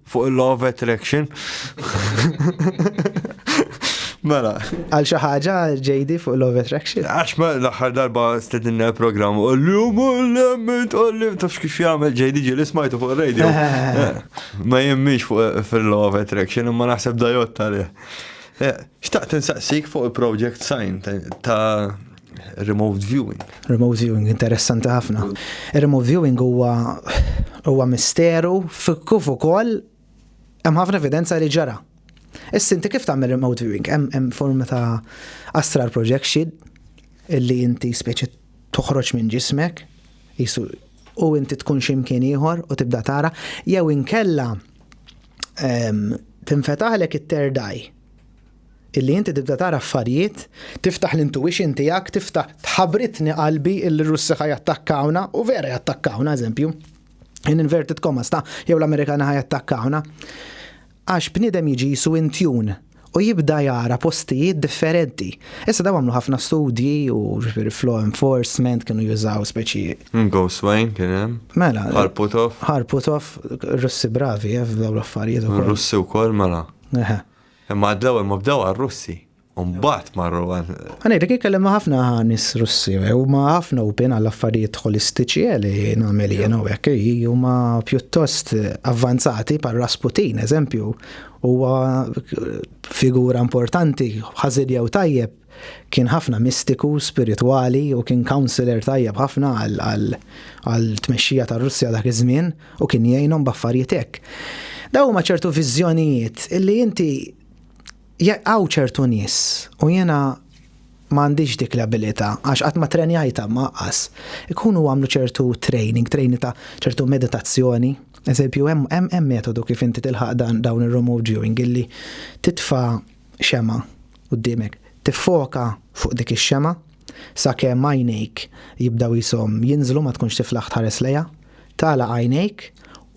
Fuq il-law of attraction. Mela. Għal xi ħaġa JD fuq Love Attraction. Għax ma l-aħħar darba stedinna program u l-lum u l-lemment u l-lum tafx kif jagħmel JD ġieli smajtu fuq radio. Eh, ma jemmix fuq eh, fil-Love Attraction imma naħseb dajot tal eh, Xtaqt insaqsik fuq il-project sign ta' Remote viewing. Remote viewing, interessanti ħafna. Remote viewing huwa huwa misteru kif ukoll hemm ħafna evidenza li ġara. Issa inti kif tagħmel remote viewing? Hemm forma ta' astral projection illi inti speċi toħroġ minn ġismek jisu u inti tkun ximkien ieħor u tibda tara jew inkella ehm, tinfetaħlek it-terdaj illi inti tibda tara affarijiet, tiftaħ l-intuition tiegħek, tiftaħ tħabritni qalbi illi r-Russi ħa jattakkawna u vera jattakkawna eżempju. In inverted commas ta' jew l-Amerikani ħa jattakkawna. Għax bniedem jiġi jisu intjun u jibda jara postijiet differenti. Issa daw għamlu ħafna studji u flow enforcement kienu jużaw speċi. Mm, Ghost Wayne kien hemm. Mela. Harputov. Harputov, Russi bravi, eh, f'daw l-affarijiet. Russi wkoll mela. Imma għad l-ewwel ma bdew għar-Russi, u mbagħad marru għal. Ħa ngħidlek jien kellimt ma' ħafna nies Russi, huma ħafna open għall-affarijiet ħolistiċi li nagħmel jien hawnhekk, huma pjuttost avvanzati bħal Rasputin, eżempju, huwa figura importanti, ħażin jew tajjeb, Kien ħafna mistiku, spiritwali u kien councillor tajjeb ħafna għall-tmexxija tar-Russja dak iż-żmien u kien jgħinhom b'affarijiet hekk. Dawn huma ċertu viżjonijiet li inti hawn ċertu nies u jiena m'għandix dik l-abilità għax qatt ma trenjajtha ma qas. Ikunu għamlu ċertu training, training ta' ċertu meditazzjoni. Eżempju, hemm metodu kif inti tilħaq dawn ir-remote viewing illi titfa' xemgħa quddiemek, tiffoka fuq dik ix-xemgħa sakemm għajnejk jibdew jisom jinżlu ma tkunx tiflaħ tħares lejha, tagħlaq għajnejk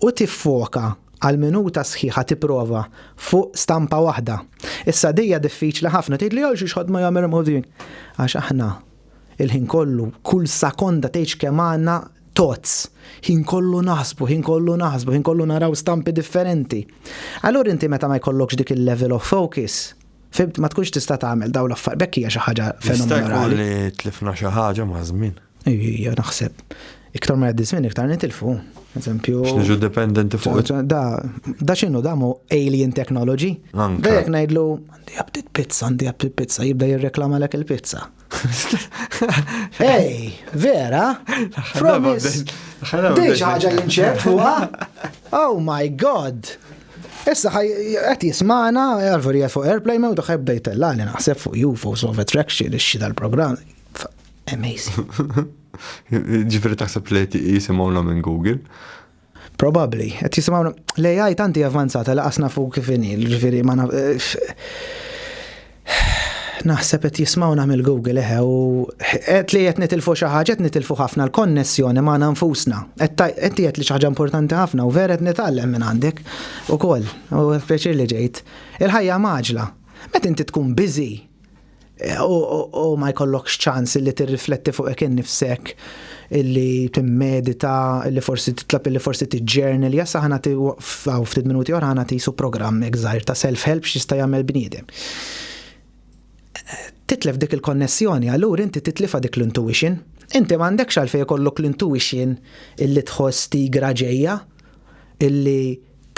u tiffoka għal minuta sħiħa tipprova fuq stampa waħda. Issa dija diffiċli ħafna tgħidli għal xiex ħadd ma jagħmel għax aħna il-ħin kollu, kull sakonda tgħidx kemm għandna tots, ħin kollu naħsbu, ħin kollu naħsbu, ħin kollu naraw stampi differenti. Allura inti meta ma jkollokx dik il-level of focus, fimt ma tkunx tista' tagħmel dawn l-affar, bekk hija xi ħaġa fenomenali. li tlifna xi ħaġa ma' żmien. Ija naħseb. Iktar ma jgħaddi żmien iktar nitilfu. Eżempju. X'niġu dependenti fuq. Da, da x'inhu da mu alien technology. Dejjek ngħidlu Għandi aptit pizza, għandi aptit pizza, jibda jirreklamalek il-pizza. Ej, vera? Promise. Dej ħaġa li nċep huwa. Oh my god. Issa ħaj qed jismana, għarveri fuq airplay ma daħħeb bdejtella li naħseb fuq UFOs of attraction ix-xi dal-programm. Amazing. Ġifieri taħseb li jisimgħu minn Google. Probabbli, qed jisimgħu l-AI tanti avvanzata laqas nafu kif inhi, ġifieri ma naf. Naħseb qed jismgħu nagħmel Google eħe u qed li qed nitilfu xi ħaġa qed nitilfu ħafna l-konnessjoni magħna nfusna. Qed qed li xi ħaġa importanti ħafna u vera qed nitgħallem minn għandek ukoll u pjaċir li ġejt. Il-ħajja maġla. Meta inti tkun biżi, u ma jkollokx ċans li tirrifletti fuq hekk innifsek illi timmedita, illi forsi titlab illi forsi tiġġernel, jassa ħana ti waqfaw ftit minuti oħra ħana tisu programm egżajr ta' self-help x'jista' jagħmel bniedem. Titlef dik il-konnessjoni, allura inti titlifa dik l-intuition. Inti m'għandekx għalfejn ikollok l-intuition illi tħoss tigra ġejja, illi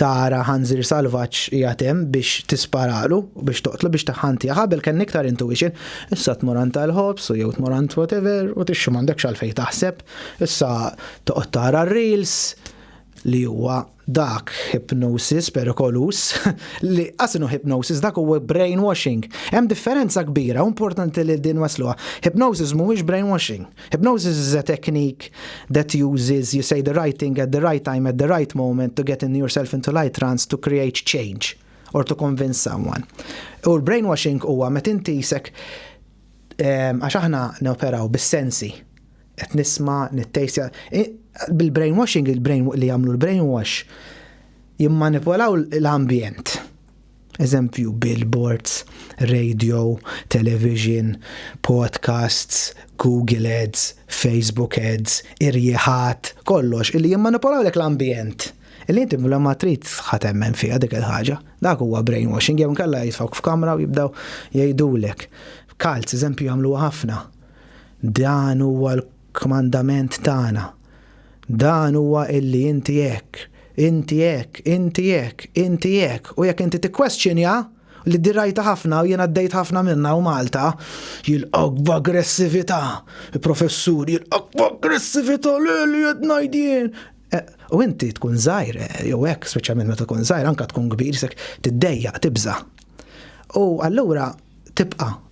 tara ħanżir salvaġġ qiegħed hemm biex tisparalu, biex toqtlu, biex taħħantija. Ħabel kien iktar intuition. Issa tmur għand tal-ħobs u jew tmur għand whatever u tixxu m'għandekx għalfejn taħseb. Issa toqgħod tara r-reels li huwa dak hypnosis perikolus li qasinu hypnosis dak huwa brainwashing. Hemm differenza kbira, importanti li din wasluha. Hypnosis mhuwiex brainwashing. Hypnosis is a technique that uses, you say the right thing at the right time at the right moment to get in yourself into light trance to create change or to convince someone. U l-brainwashing huwa met inti jisek ehm, għax aħna neoperaw bis-sensi. Qed nisma, nittejsja. Bil-brainwashing, il-brain li jagħmlu l-brainwash jimmanipolaw l-ambjent. Eżempju, billboards, radio, television, podcasts, Google Ads, Facebook Ads, irjieħat, kollox illi jimmanipulawlek l-ambjent. Illi inti bla ma trid ħa temmen fiha dik il-ħaġa. Dak huwa brainwashing jew inkella jitfawk f'kamra u jibdew jgħidulek. Kalz, eżempju, jagħmluha ħafna. Dan huwa l Kmandament tagħna. Dan huwa illi inti hekk, inti hekk, inti hekk, inti hekk, u jekk inti tikkwestjonja, li di rajtha ħafna u jien għaddejt ħafna minnha hawn Malta, jilqgħuk b'aggressività, il-professur jilqgħuk b'aggressività, le li qed ngħid jien. Eh, u inti tkun żgħir, eh, jew hekk, speċjalment meta tkun żgħir, anke tkun kbir, sek tiddejjaq, tibża'. U allura tibqa'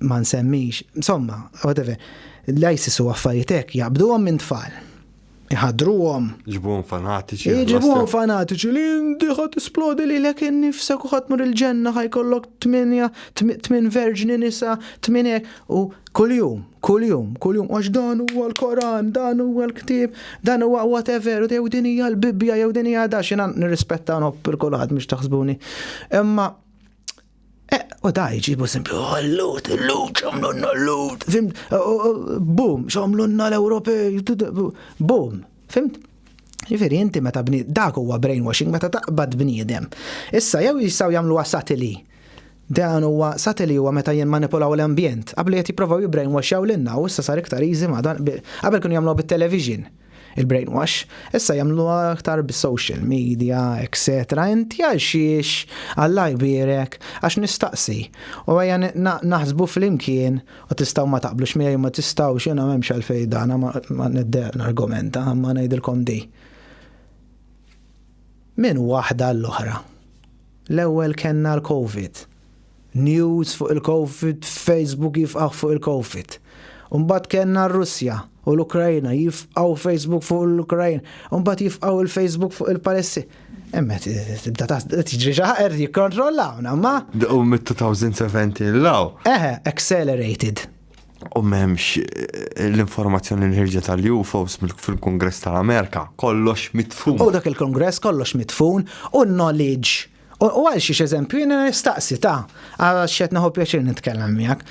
ma nsemmix, insomma, whatever, l-ISIS u affarijiet hekk jaqbduhom minn tfal. Iħadruhom. Ġibuhom fanatiċi. Ġibuhom fanatiċi li ndiħa tisplodi li lek innifsek u ħatmur il-ġenna ħajkollok tminja, tmin verġni nisa, tmin hekk u kuljum, kuljum, kuljum, għax dan huwa l-Koran, dan huwa l-ktib, dan huwa whatever, jew din hija l-Bibbja, jew din hija da xina nirrispetta nħobb il-kulħadd mhux taħsbuni. Imma Eh, u da jġibu simpli, għallut, oh, l-lut, xomlunna l-lut, fimt, oh, oh, bum, xomlunna l-Ewropej, bum, fimt? Ġifiri, inti meta bni, dak huwa brainwashing meta taqbad bniedem. Issa jew jistaw jagħmlu satili. Dan huwa satili huwa meta jien manipulaw l-ambjent. Qabel qed jipprovaw jibbrainwashjaw lilna u issa sar iktar easy ma dan qabel kienu jagħmlu bit-television. Il-brainwash, issa jagħmluha aktar bis-social media, etc. Inti għal xiex Alla jbierek għax nistaqsi u ejja naħsbu flimkien u tistgħu ma taqblux miegħi u ma tistgħux jiena m'hemmx għalfejn dan ma niddeq nargumenta imma ngħidilkom di. Minn waħda għall-oħra. L-ewwel kellna l-COVID. News fuq il-Covid f'Facebook jifqagħ fuq il-Covid. U mbagħad kellna r-Russja u l-Ukrajna jifqgħu Facebook fuq l-Ukrajna. U mbagħad jifqgħu il-Facebook fuq il-Palessi. Emma tibda ta' tiġri xi ħaqer jikkontrollawna, ma. U mit-2070 law. Eħe, accelerated. U memx eh, l-informazzjoni li ħirġet għal UFOs fil-Kongress tal-Amerika, kollox mitfun. U dak il-Kongress kollox mitfun u knowledge U għal xiex eżempju, jena nistaqsi ta' għal xet naħu pjaċir nitkellem miegħek.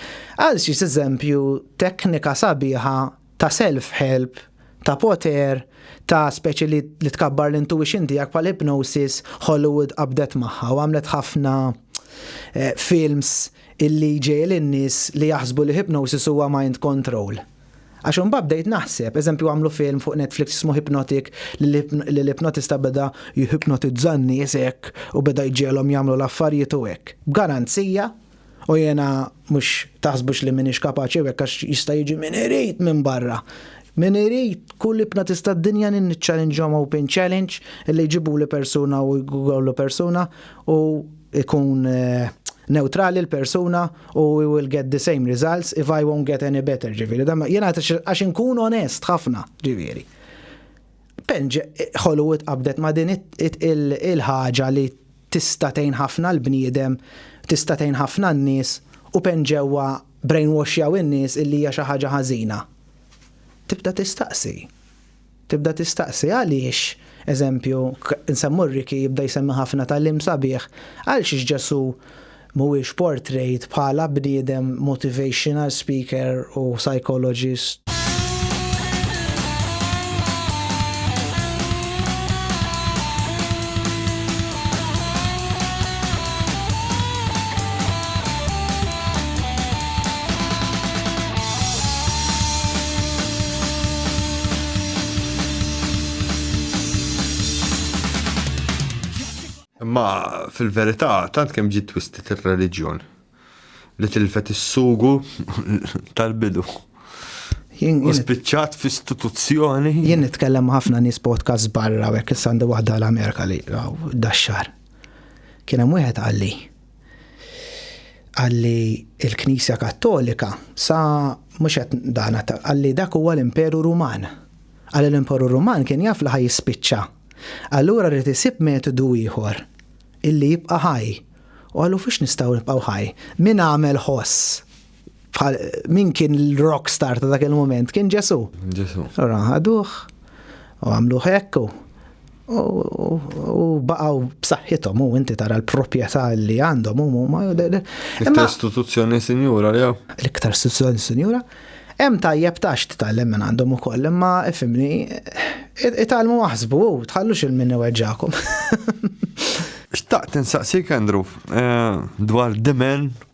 Għal xiex eżempju teknika sabiħa ta' self-help, ta' poter, ta' speċi li, li tkabbar l-intuition tiegħek pal hypnosis Hollywood qabdet magħha u għamlet ħafna eh, films illi ġej l-nies li jaħsbu li hypnosis huwa mind control. Għax imbagħad bdejt naħseb, eżempju għamlu film fuq Netflix jismu Hypnotic li l-ipnotista beda jihipnotizza n-nies hekk u beda jġegħelhom jagħmlu l-affarijiet u hekk. B'garanzija, u jiena mhux taħsbux li m'iniex kapaċi u hekk għax jista' jiġi min irid minn barra, min irid, kull ipnotista d-dinja nniċċalinġhom open challenge li jġibuli persuna u jgawlu persuna u ikun neutrali l-persuna u we will get the same results if I won't get any better, ġiviri. Jena għax inkun onest ħafna, ġiviri. Penġ Hollywood qabdet ma din il-ħaġa li tistatejn ħafna l-bniedem, tistatejn ħafna n-nis u penġewa brainwashjaw in-nies illi hija xi ħaġa ħażina. Tibda tistaqsi. Tibda tistaqsi għaliex, eżempju, nsemmu Ricky jibda jsemmi ħafna tagħlim sabiħ, għalxiex Ġesù mhuwiex portrayed bħala bniedem motivational speaker u psychologist? Imma fil-verità tant kemm ġiet twistit ir-reliġjon li tilfet is-sugu tal-bidu. U spiċċat f'istituzzjoni. Jien nitkellem ħafna nies podcast barra u hekk issa għandi waħda l-Amerika li daxxar. Kien hemm wieħed qalli, Qalli il-Knisja Kattolika sa mhux qed dana qalli dak huwa l-Imperu Ruman. Qalli l-Imperu Ruman kien jaf li ħa jispiċċa. Allura rrid isib metodu ieħor illi jibqa' ħaj. U qalu fiex nistgħu nibqgħu ħaj? Min għamel ħoss min kien l-rock star ta' dak il-moment? Kien Ġesu. Ġesu. Ora, ħaduħ, u għamlu hekk, u baqaw b'saħħithom u inti tara l-proprjetà li għandhom u ma L-iktar istituzzjoni sinjura li L-iktar istituzzjoni sinjura. Hemm tajjeb tax titgħallem minn għandhom ukoll, imma ifimni itgħallmu aħsbu u tħallux il-min iweġġakom. Xtaqt insaqsik Andrew eh, dwar dimen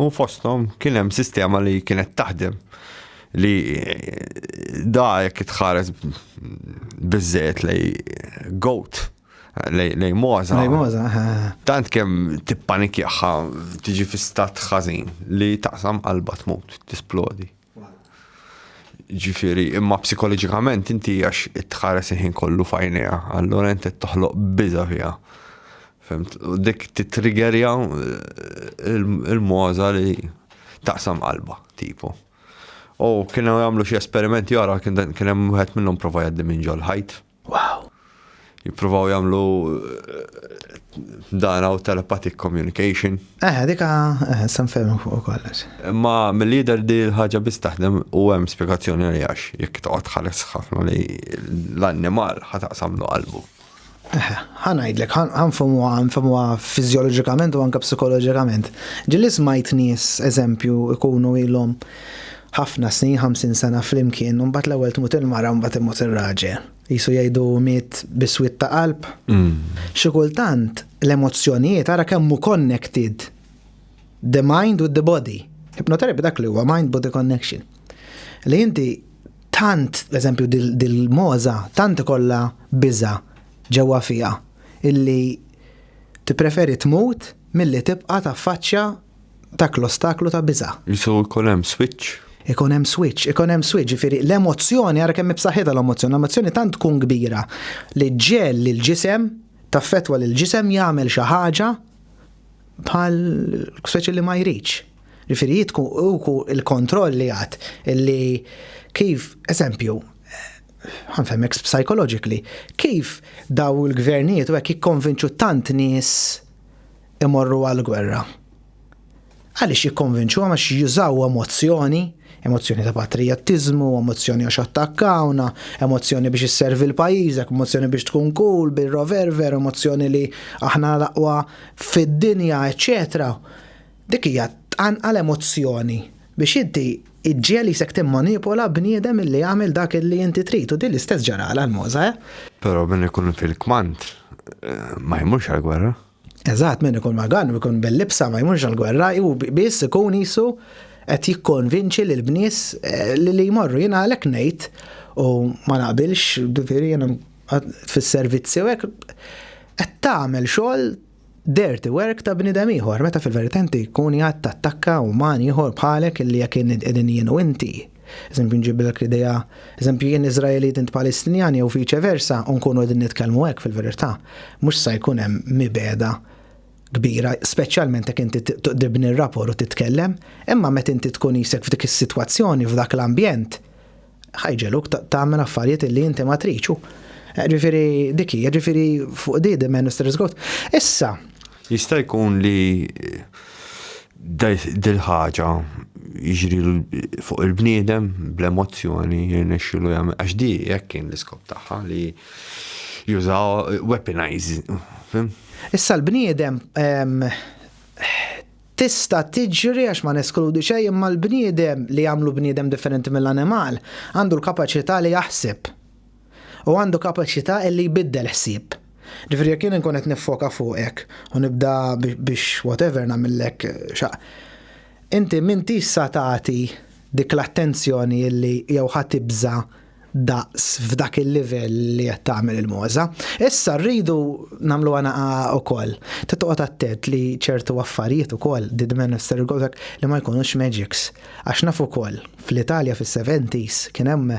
U fosthom kien hemm sistema li kienet taħdem li da jekk itħares biżżejjed lej goat lej moza. Lej moza. Tant kemm tippanikjaħħa tiġi fi stat ħażin li taqsam qalba tmut, tisplodi. Ġifieri, imma psikoloġikament inti għax tħares il-ħin kollu fajnija, allura inti toħloq biża fiha. Femt, u dik titrigerja eh, il-moza li taqsam qalba, tipo. U kienu għamlu xie esperimenti għara, kien hemm wieħed minnhom prova jaddi minn ġol ħajt. Wow! Jippruvaw jagħmlu dan għaw telepathic communication. Eh, dika, eh, san fermu fuq kollox. Ma mill-lider di l-ħagġa biss taħdem u hemm spiegazzjoni li għax jekk toqgħod ħares ħafna li l-annimal ħataqsamlu qalbu. Eh, ħanajdlek, ħanfamu ħanfamu fizjologikament u anka psikoloġikament. Ġilli smajt nies, eżempju, ikunu ilhom Ħafna snin, ħamsin sena flimkien, u mbagħad l-ewwel tmut il-mara u mbagħad imut ir-raġel. Qisu jgħidu miet biswit ta' qalb. Mm. Xi kultant l-emozzjonijiet ara kemm hu connected the mind with the body. Hypnotherapy dak li huwa mind body connection. Li inti tant, eżempju, dil-moza, tant kolla biza ġewwa fija, illi tippreferi tmut milli tibqa ta' faċċja dak l-ostaklu ta' biża. Jisu jkun hemm switch. Ikun hemm switch, ikun hemm switch, ġifieri l-emozzjoni ara kemm b'saħħitha l-emozzjoni, l-emozzjoni tant tkun kbira li ġġel lill-ġisem, taffettwa lill-ġisem jagħmel xi ħaġa bħal speċi li ma jridx. Ġifieri jitku uku il-kontroll li għad illi kif, eżempju, ħanfemmek psychologically, kif daw il-gvernijiet u hekk jikkonvinċu tant nies imorru għall-gwerra. Għaliex jikkonvinċuhom għax jużaw emozzjoni, emozzjoni ta' patrijattiżmu, emozzjoni għax attakkawna, emozzjoni biex isservi l-pajjiżek, emozzjoni biex tkun cool, bil-roverver, emozzjoni li aħna l-aqwa fid-dinja, eċċetera. Dik hija tqanqal emozzjoni biex inti iġġiel isek timmanipula bniedem illi jagħmel dak illi inti trid u din l-istess ġarala l-moża. Eh? Però min ikun fil-kmand eh, ma jmux għal-gwerra. Eżatt, min ikun magan u jkun bil-libsa ma jmurx għall-gwerra, hu biss ikun qisu qed jikkonvinċi lil bnies eh, li li jmorru. Jiena għalhekk ngħid u ma naqbilx, ġifieri jiena fis-servizzi u hekk qed tagħmel xogħol dirty work ta' bnidem ieħor, meta fil-verità inti jkun jgħad tattakka uman ieħor bħalek li jekk qegħdin jien u inti Eżempju nġibilek l-idea, eżempju jien Iżraelit int Palestinjan jew viċe versa u nkunu qegħdin nitkellmu hekk fil-verità, mhux se jkun hemm mibegħda kbira, speċjalment jekk inti tibni r-rapport u titkellem, imma meta inti tkun isek f'dik is-sitwazzjoni, f'dak l-ambjent, ħajġeluk tagħmel affarijiet li inti ma triċu. Ġifieri dik hija, ġifieri fuq di di Minister Issa. Jista' jkun li dil-ħaġa jiġri fuq il-bniedem bl-emozzjoni jirnexxilu jagħmel għax di hekk kien l-iskop tagħha li jużaw weaponize. Issa l-bniedem tista' tiġri għax ma neskludi xejn imma l-bniedem li jagħmlu bniedem differenti mill-animal għandu l-kapaċità li jaħseb. u għandu kapaċità li jbiddel ħsieb. Ġifieri jekk jien inkun qed niffoka fuqek u nibda biex whatever nagħmillek xa. Inti m'intix sa tagħti dik l-attenzjoni li jew ħa tibża' daqs f'dak il-livell li qed tagħmel il-mogħża. Issa rridu nagħmluha naqa' ukoll. Trid toqgħod attent li ċertu affarijiet ukoll did men of li ma jkunux magics. Għax naf ukoll fl-Italja fis-70s kien hemm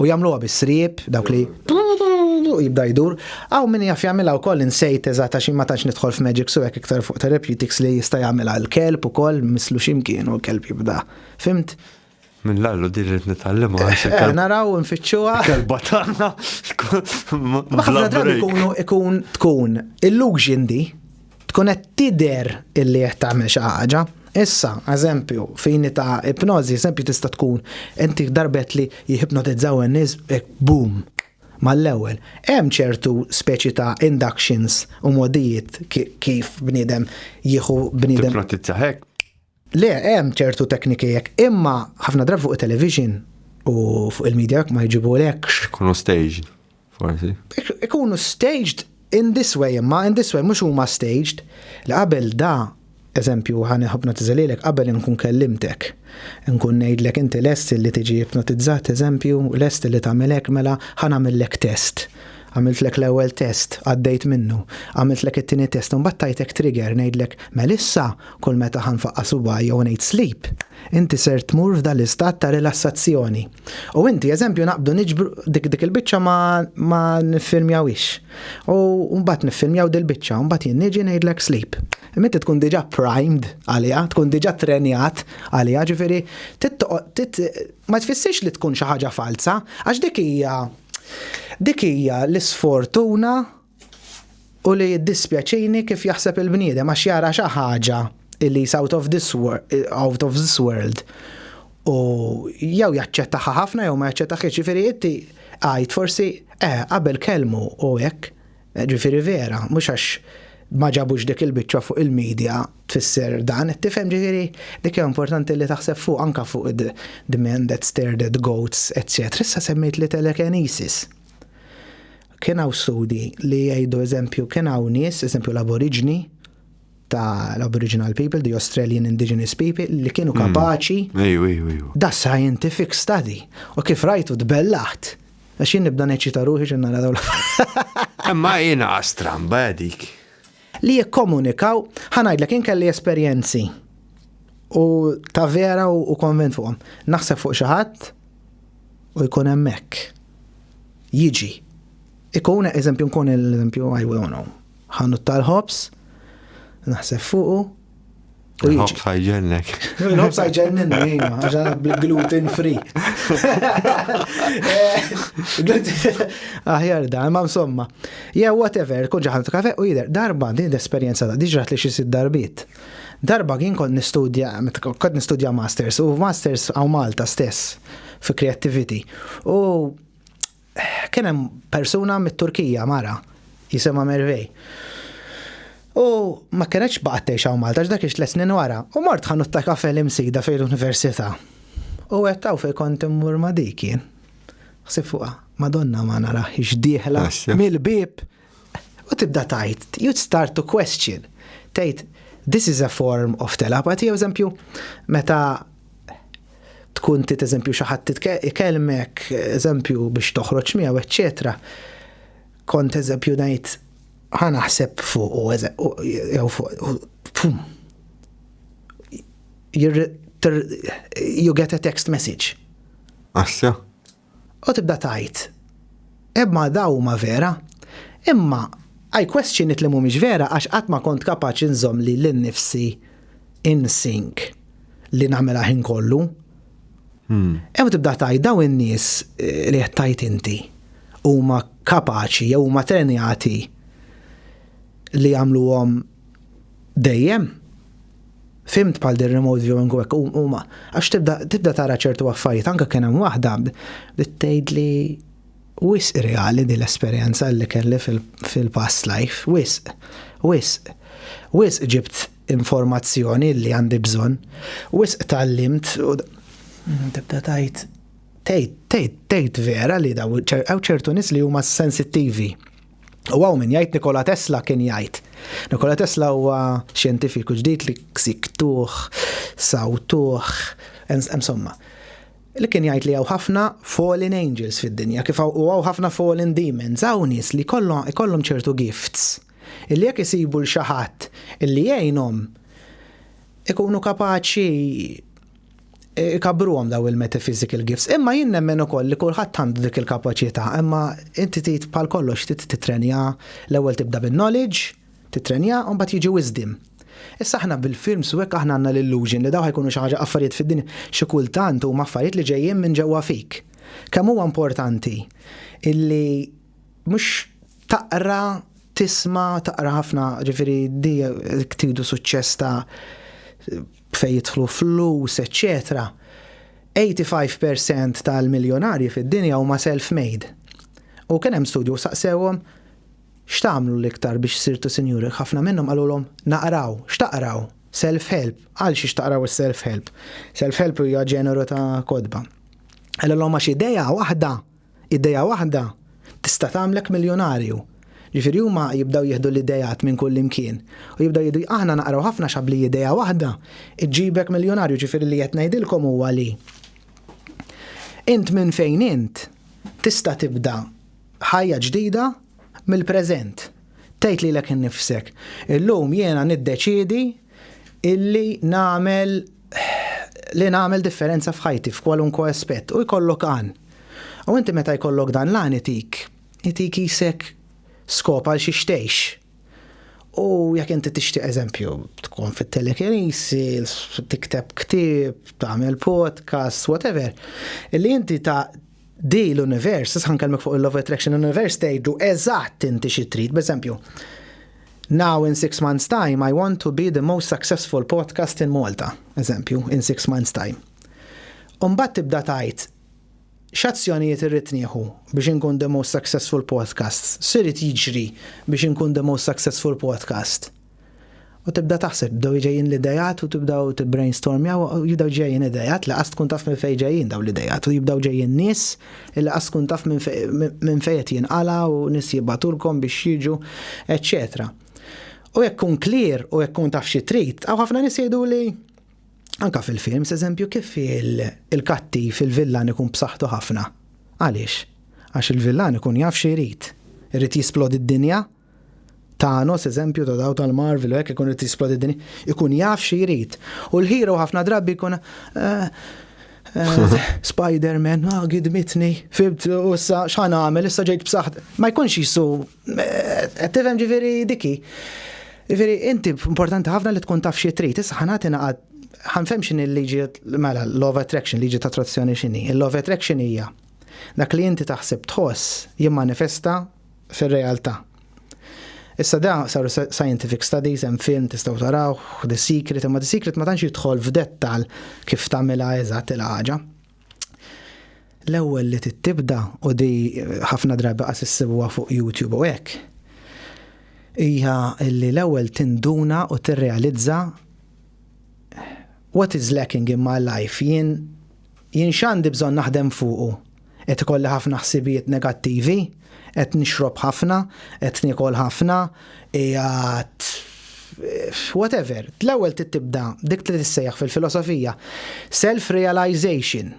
U jagħmluha bis-sriep, dawk li u jibda jdur. Aw min jaf jagħmilha wkoll insejt eżatt għax ma tantx nidħol f'magic su hekk iktar fuq therapeutics li jista' jagħmilha l-kelb ukoll mislu x'imkien u l-kelb jibda. Fimt? Minn l-allu din li nitgħallimha għax eh, iktar. Naraw nfittxuha. Kelba tagħna. Ħafna drabi ikunu ikun tkun illusion di Tkun qed tidher illi qed tagħmel xi ħaġa. Issa, eżempju, fini ta' ipnożi, eżempju tista' tkun inti darbet li jihipnotizzaw in-nies hekk boom mal-ewwel. Hemm ċertu speċi ta' inductions u mogħdijiet kif bniedem jieħu bniedem. Tipnotizza hekk. Le, hemm ċertu tekniki hekk, imma ħafna drabi fuq it-television u fuq il-media hekk ma jġibulekx. Ikunu staged, forsi. Ikunu staged in this way imma, in this way, mhux huma staged. Li qabel da, eżempju, ħa nipnotiża lilek qabel inkun kellimtek. Inkun ngħidlek inti lest li tiġi ipnotizzat, eżempju, lest li tagħmel hekk, mela ħa nagħmillek test. Għamiltlek l-ewwel test, għaddejt minnu, għamiltlek it-tieni test, imbagħad tajtek trigger ngħidlek, mela issa kull meta ħa nfaqqa' subgħajja jew ngħid sleep, inti ser tmur f'dan l-istat ta' rilassazzjoni. U inti, eżempju, naqbdu niġbru dik il-biċċa ma niffilmjawhiex. U mbagħad niffilmjaw dil-biċċa, mbagħad jien niġi ngħidlek sleep. Imma inti tkun diġà primed għaliha, tkun diġà trenjat għaliha, ġifieri ma tfissirx li tkun xi ħaġa falza, għax dik hija Dik hija l-isfortuna u li jiddispjaċini kif jaħseb il-bniedem għax jara xi ħaġa li is out of this out of this world u jew jaċċettaha ħafna jew ma jaċċettahiex. Jiġifieri inti għid forsi eh qabel kellmu u hekk Ġifieri vera, mhux għax ma ġabux dik il-biċċa fuq il-media tfisser dan, tifhem? Ġifieri dik hija importanti li taħseb fuqha anke fuq the man that stared at goats etc. Issa semmejt li telekinesis. Kien hawn studi li jgħidu eżempju kien hawn nies, eżempju l-aboriġni, ta' l-Aboriginal people, the Australian Indigenous people, li kienu hmm. kapaċi. Ejju, ejju, ejju. Da scientific study. U kif rajtu tbellaħt. Għax jien nibda neċita ruħi xi nara dawl. Imma jiena stramba dik. Li jikkomunikaw, ħanajdlek jien kelli esperjenzi u ta' vera u konvent fuqhom. Naħseb fuq xi ħadd u jkun hemmhekk. Jiġi. Ikun eżempju nkun l-eżempju I will know. Ħanut tal-ħobs, naħseb fuqu. Il-ħobs ħajġennek. Il-ħobs ħajġennek, jina, għaxan bil-gluten free. Aħjar da, ma insomma. Ja, whatever, kun ġaħan kafe u jider, darba din l-esperienza da, diġrat li xisid darbit. Darba kien kont nistudja, kont nistudja masters, u masters għaw Malta stess, fi creativity. U Kien hemm persuna mit-Turkija, mara, jisimha Mervey. U ma kienetx baqgħet tgħix hawn Malta, x'dak ix tliet snin wara, u mort ħanut ta' kafè l-Imsida fejn l-Università. U għedt hawn fejn kont immur ma' dik jien. Ħsibt fuqha, Madonna ma narahiex dieħla mill-bieb! U tibda tgħid, you'd start to question, tgħid this is a form of telepathy, jew eżempju, meta tkun tit eżempju xi ħadd ikellmek, eżempju biex toħroġ miegħu, eċċetera. Kont eżempju ngħid ħa naħseb fuq u jew fuq you get a text message. Assja, u tibda tgħid, Eb ma daw huma vera. Imma I question it li mhumiex vera għax qatt ma kont kapaċi nżomm lili nnifsi in sync li nagħmilha ħin kollu. Eb tibda tgħid daw in-nies li qed tgħid inti huma kapaċi jew huma trenjati li jagħmluhom dejjem. Fhimt bħal din remote viewing u hekk huma għax tibda tibda tara ċertu affarijiet anke kien hemm waħda li tgħidli wisq reali din l-esperjenza li kelli fil-past life, wisq, wisq, wisq ġibt informazzjoni li għandi bżonn, wisq tallimt u tibda tgħid tgħid tgħid tgħid vera li daw ċertu nies li huma sensittivi U għaw min jgħid Nikola Tesla kien jgħid. Nikola Tesla huwa xjentifiku ġdid li ksiktuħ, sawtuħ, insomma. Li kien jgħid li għaw ħafna fallen angels fid-dinja, kif u għaw ħafna fallen demons, għaw nies li kollhom ċertu gifts. Illi jekk isibu l-xaħat illi jgħinhom ikunu kapaċi ikabruhom daw il-metaphysical gifts. Imma jien nemmen ukoll li kulħadd għandu dik il-kapaċità, imma inti trid bħal kollox trid titrenja l-ewwel tibda bin-knowledge, titrenja u mbagħad jiġi wisdom. Issa aħna bil-films u hekk aħna għandna l-illusion li daw ħajkunu xi ħaġa affarijiet fid-dinja xi kultant huma affarijiet li ġejjin minn ġewwa fik. Kemm huwa importanti illi mhux taqra, tisma', taqra ħafna, ġifieri di tidu suċċess ta' fejn jidħlu flus eċċetera, 85 per cent tal-miljonarji fid-dinja huma self-made. U kien hemm studju u saqsewhom, X'tagħmlu l-iktar biex sirtu sinjuri? Ħafna minnhom qalulhom, Naqraw. X'taqraw? Self-help. Għal xiex taqraw is-self-help? Self-help hija ġeneru ta' kotba. Qalilhom għax idea waħda Idea waħda tista' tagħmlek miljonarju. Ġifieri huma jibdew jieħdu l-ideat minn kullimkien u jibdew jgħidu aħna naqraw ħafna xabli idea waħda ġġibek miljonarju ġifieri li qed ngħidilkom huwa li int minn fejn int tista' tibda ħajja ġdida Mill-preżent, tgħid lilek innifsek, Illum jiena niddeċiedi illi nagħmel li nagħmel differenza f'ħajti f'kwalunkwe aspett u jkollok għan. U inti meta jkollok dan l-għan itik, itik qisek skop għal xiex tgħix. U jekk inti tixtieq eżempju, tkun fit-telekinisi, tikteb ktieb, tagħmel podcast, whatever, li inti ta' Di l-univers, issa ħankellmek fuq il-Love Attraction, l-univers tgħidlu eżatt inti xi trid, b'eżempju. Now in six months time I want to be the most successful podcast in Malta, eżempju, in six months time. Umbat tibda tajt, x'azzjonijiet irrid nieħu biex inkun the most successful podcast? Sirid jiġri biex inkun the most successful podcast? U tibda taħseb, jibdew iġejjin l-ideat u tibdew tibbrainstormjaw, jibdew ġejjin ideat li qas tkun taf minn fejn ġejjin dawn l-ideat u jibdew ġejjin nies li qas tkun taf minn fejn qed jinqala' u nies jibagħtulkom biex jiġu, eċċetera. U jekk tkun clear u jekk tkun taf xi trid, hawn ħafna nies jgħiduli anke fil-films, eżempju, kif il-kattiv, il-villan ikun b'saħħtu ħafna. Għaliex? Għax il-villan ikun jaf xi jrid. Irid jisplodi d-dinja? Thanos, eżempju ta' daw tal-Marvel, u hekk ikun irid jisplodi din, ikun jaf xi jrid. U l-hero ħafna drabi jkun eh, eh, Spider-Man, ah, gidmitni, fibt, u issa x'ħan għamel, issa ġejt b'saħħt. Ma jkunx jisu, eh, tifhem ġifieri diki. Ġifieri inti importanti ħafna li tkun taf xi trid, issa ħanati naqgħad ħanfem x'in il-liġi mela love attraction, liġi ta' attrazzjoni x'inhi. Il-love attraction hija dak li inti taħseb tħoss jimmanifesta fir-realtà. Issa da saru scientific studies, hemm film tistgħu tarawh, The Secret, imma The Secret ma tantx jidħol f'dettal kif tagħmilha eżatt il-ħaġa. L-ewwel li tibda u di ħafna drabi qas issibuha fuq YouTube u hekk. Hija li l-ewwel tinduna u tirrealizza what is lacking in my life jien jien x'għandi bżonn naħdem fuqu Qed ikolli ħafna ħsibijiet negattivi, qed nixrob ħafna, qed niekol ħafna, qiegħed whatever. L-ewwel tibda dik li tissejjaħ fil-filosofija self-realization.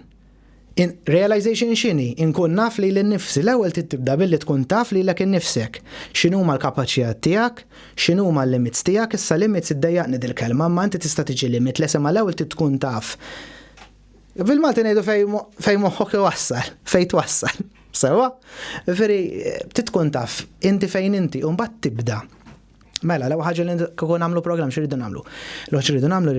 Realization x'inhi? Inkun naf li l-nifsi. L-ewwel tibda billi tkun taf li lek innifsek. X'inhuma l-kapaċijat tiegħek, x'inhuma l-limits tiegħek, issa limits iddejjaqni dil-kelma, ma inti tista' tiġi limit, le sema l-ewwel tkun taf Bil-Malti ngħidu fej moħħok iwassal, fej twassal. Sewa? Veri, titkun taf, inti fejn inti, un bat tibda. Mela, l-ewwel ħaġa li kieku nagħmlu programm x'iridu nagħmlu. L-ewwel x'iridu nagħmlu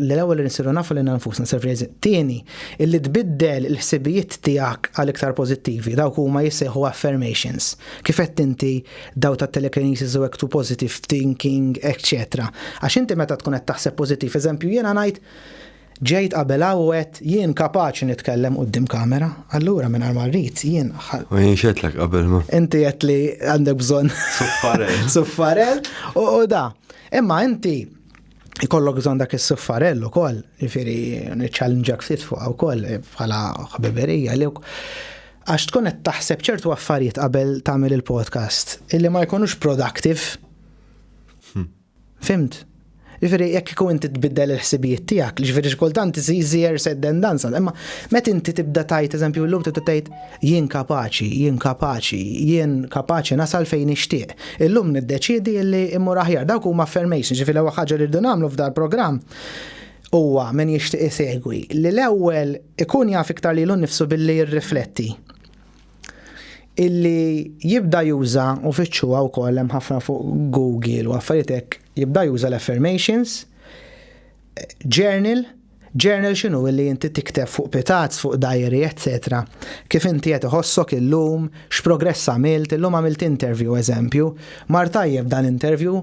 l-ewwel li nsiru nafu li nfusna surprise. Tieni, illi tbiddel il-ħsibijiet tiegħek għal iktar pożittivi, dawk huma jissejħu affirmations. Kif qed inti daw ta' telekinesis u ektu positive thinking, etc. Għax inti meta tkun qed taħseb pożittiv, eżempju jiena ngħid Ġejt qabel hawn u għedt jien kapaċi nitkellem quddiem kamera, allura mingħajr ma rrid jien ħa. Ma jienx għedtlek qabel ma. Inti għedt li għandek bżonn. Suffarell. Suffarell u da. Imma inti ikollok bżonn dak is-suffarell ukoll, jifieri niċċallenġak ftit fuq ukoll eh, bħala ħbiberija li għax tkun qed taħseb ċertu affarijiet qabel tagħmel il-podcast illi ma jkunux productive. Hmm. Fhimt? Jiġifieri jekk kieku inti tbiddel il-ħsibijiet tiegħek, jiġifieri xi kultant iżżir seddendanza, imma meta inti tibda tgħid eżempju llum tibda tgħid jien kapaċi, jien kapaċi, jien kapaċi nasal fejn nixtieq. Illum niddeċiedi li mmur aħjar. Dawk huma affirmations, jiġifieri l-ewwel ħaġa li rridu nagħmlu f'dal programm huwa min jixtieq isegwi li l-ewwel ikun jaf iktar lilu nnifsu billi jirrifletti. illi jibda juża u fittxuha wkoll hemm ħafna fuq Google u affarijiet hekk jibda juża l-affirmations journal journal x'inhu illi inti tikteb fuq pitazz, fuq diary, etc. Kif inti qed iħossok illum, x'progress għamilt, illum għamilt interview eżempju, mar tajjeb dan interview,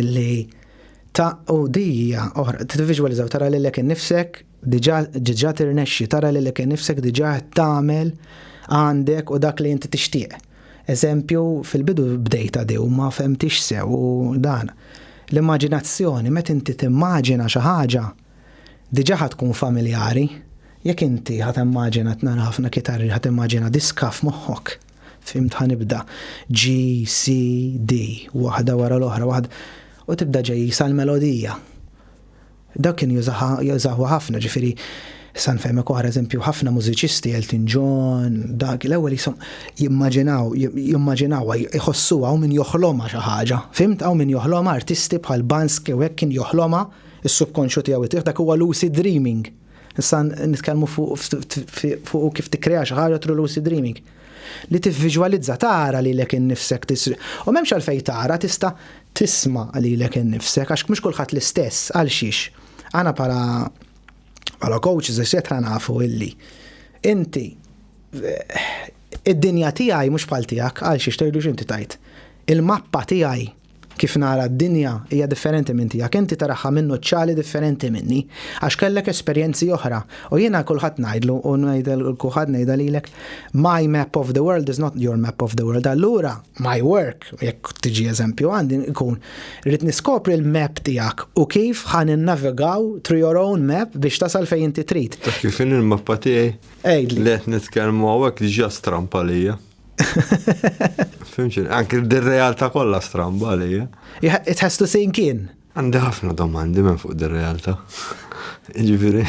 illi ta' u dija oħra, t-vizualizzaw, tara li l-ek nifsek, diġa tirnexxi, tara li l-ek nifsek, diġa tamel, għandek u dak li jinti tixtieq. Eżempju, fil-bidu bdejta di u ma femtix sew u dan. L-immaġinazzjoni, met inti timmaġina xi ħaġa, diġa ħatkun familjari, jekk inti ħat immaġina tnara ħafna kitarri ħat immaġina diska f'moħħok. Fimt ħanibda G, C, D, waħda wara l-oħra, waħda u tibda ġej sal melodija. Dak kien jużaħu ħafna ġifiri San fejmek oħra eżempju ħafna mużiċisti Elton John, dak l-ewwel jisom jimmaġinaw, jimmaġinaw jħossu għaw min joħloma xi ħaġa. Fimt għaw min joħloma artisti bħal Bansk u hekk kien joħloma is-subkonxju tiegħu dak huwa lucid dreaming. Issa nitkellmu fuq kif tikkrea xi ħaġa through lucid dreaming. Li tivviġwalizza tara lilek innifsek tis. U m'hemmx għalfejn tara tista' tisma' lilek innifsek għax mhux kulħadd l-istess għal xiex. Aħna bħala bħala coaches eċetera nafu illi inti id-dinja tiegħi mhux bħal tiegħek għal xiex tgħidux inti tajt. Il-mappa tiegħi Kif nara d-dinja hija differenti minn tiegħek, inti taraha minn nuċċali differenti minni, għax kellek esperjenzi oħra, u jiena għal kulħadd ngħidlu u ngħidha lil kulħadd ngħidha lilek, my map of the world is not your map of the world, allura my work, jekk tiġi eżempju għandi, ikun rrid niskopri l-map tiegħek u kif ħa ninnavigaw through your own map biex tasal fejn inti trid. Kif il-mappa tiegħi? Ejdli. Let nitkellmu hawnhekk diġà strampa lija. Fimxin, anki d-realtà kollha stramba li. Eh? It has to sink in. Għandi ħafna domandi minn fuq dir-realtà. Ġifieri.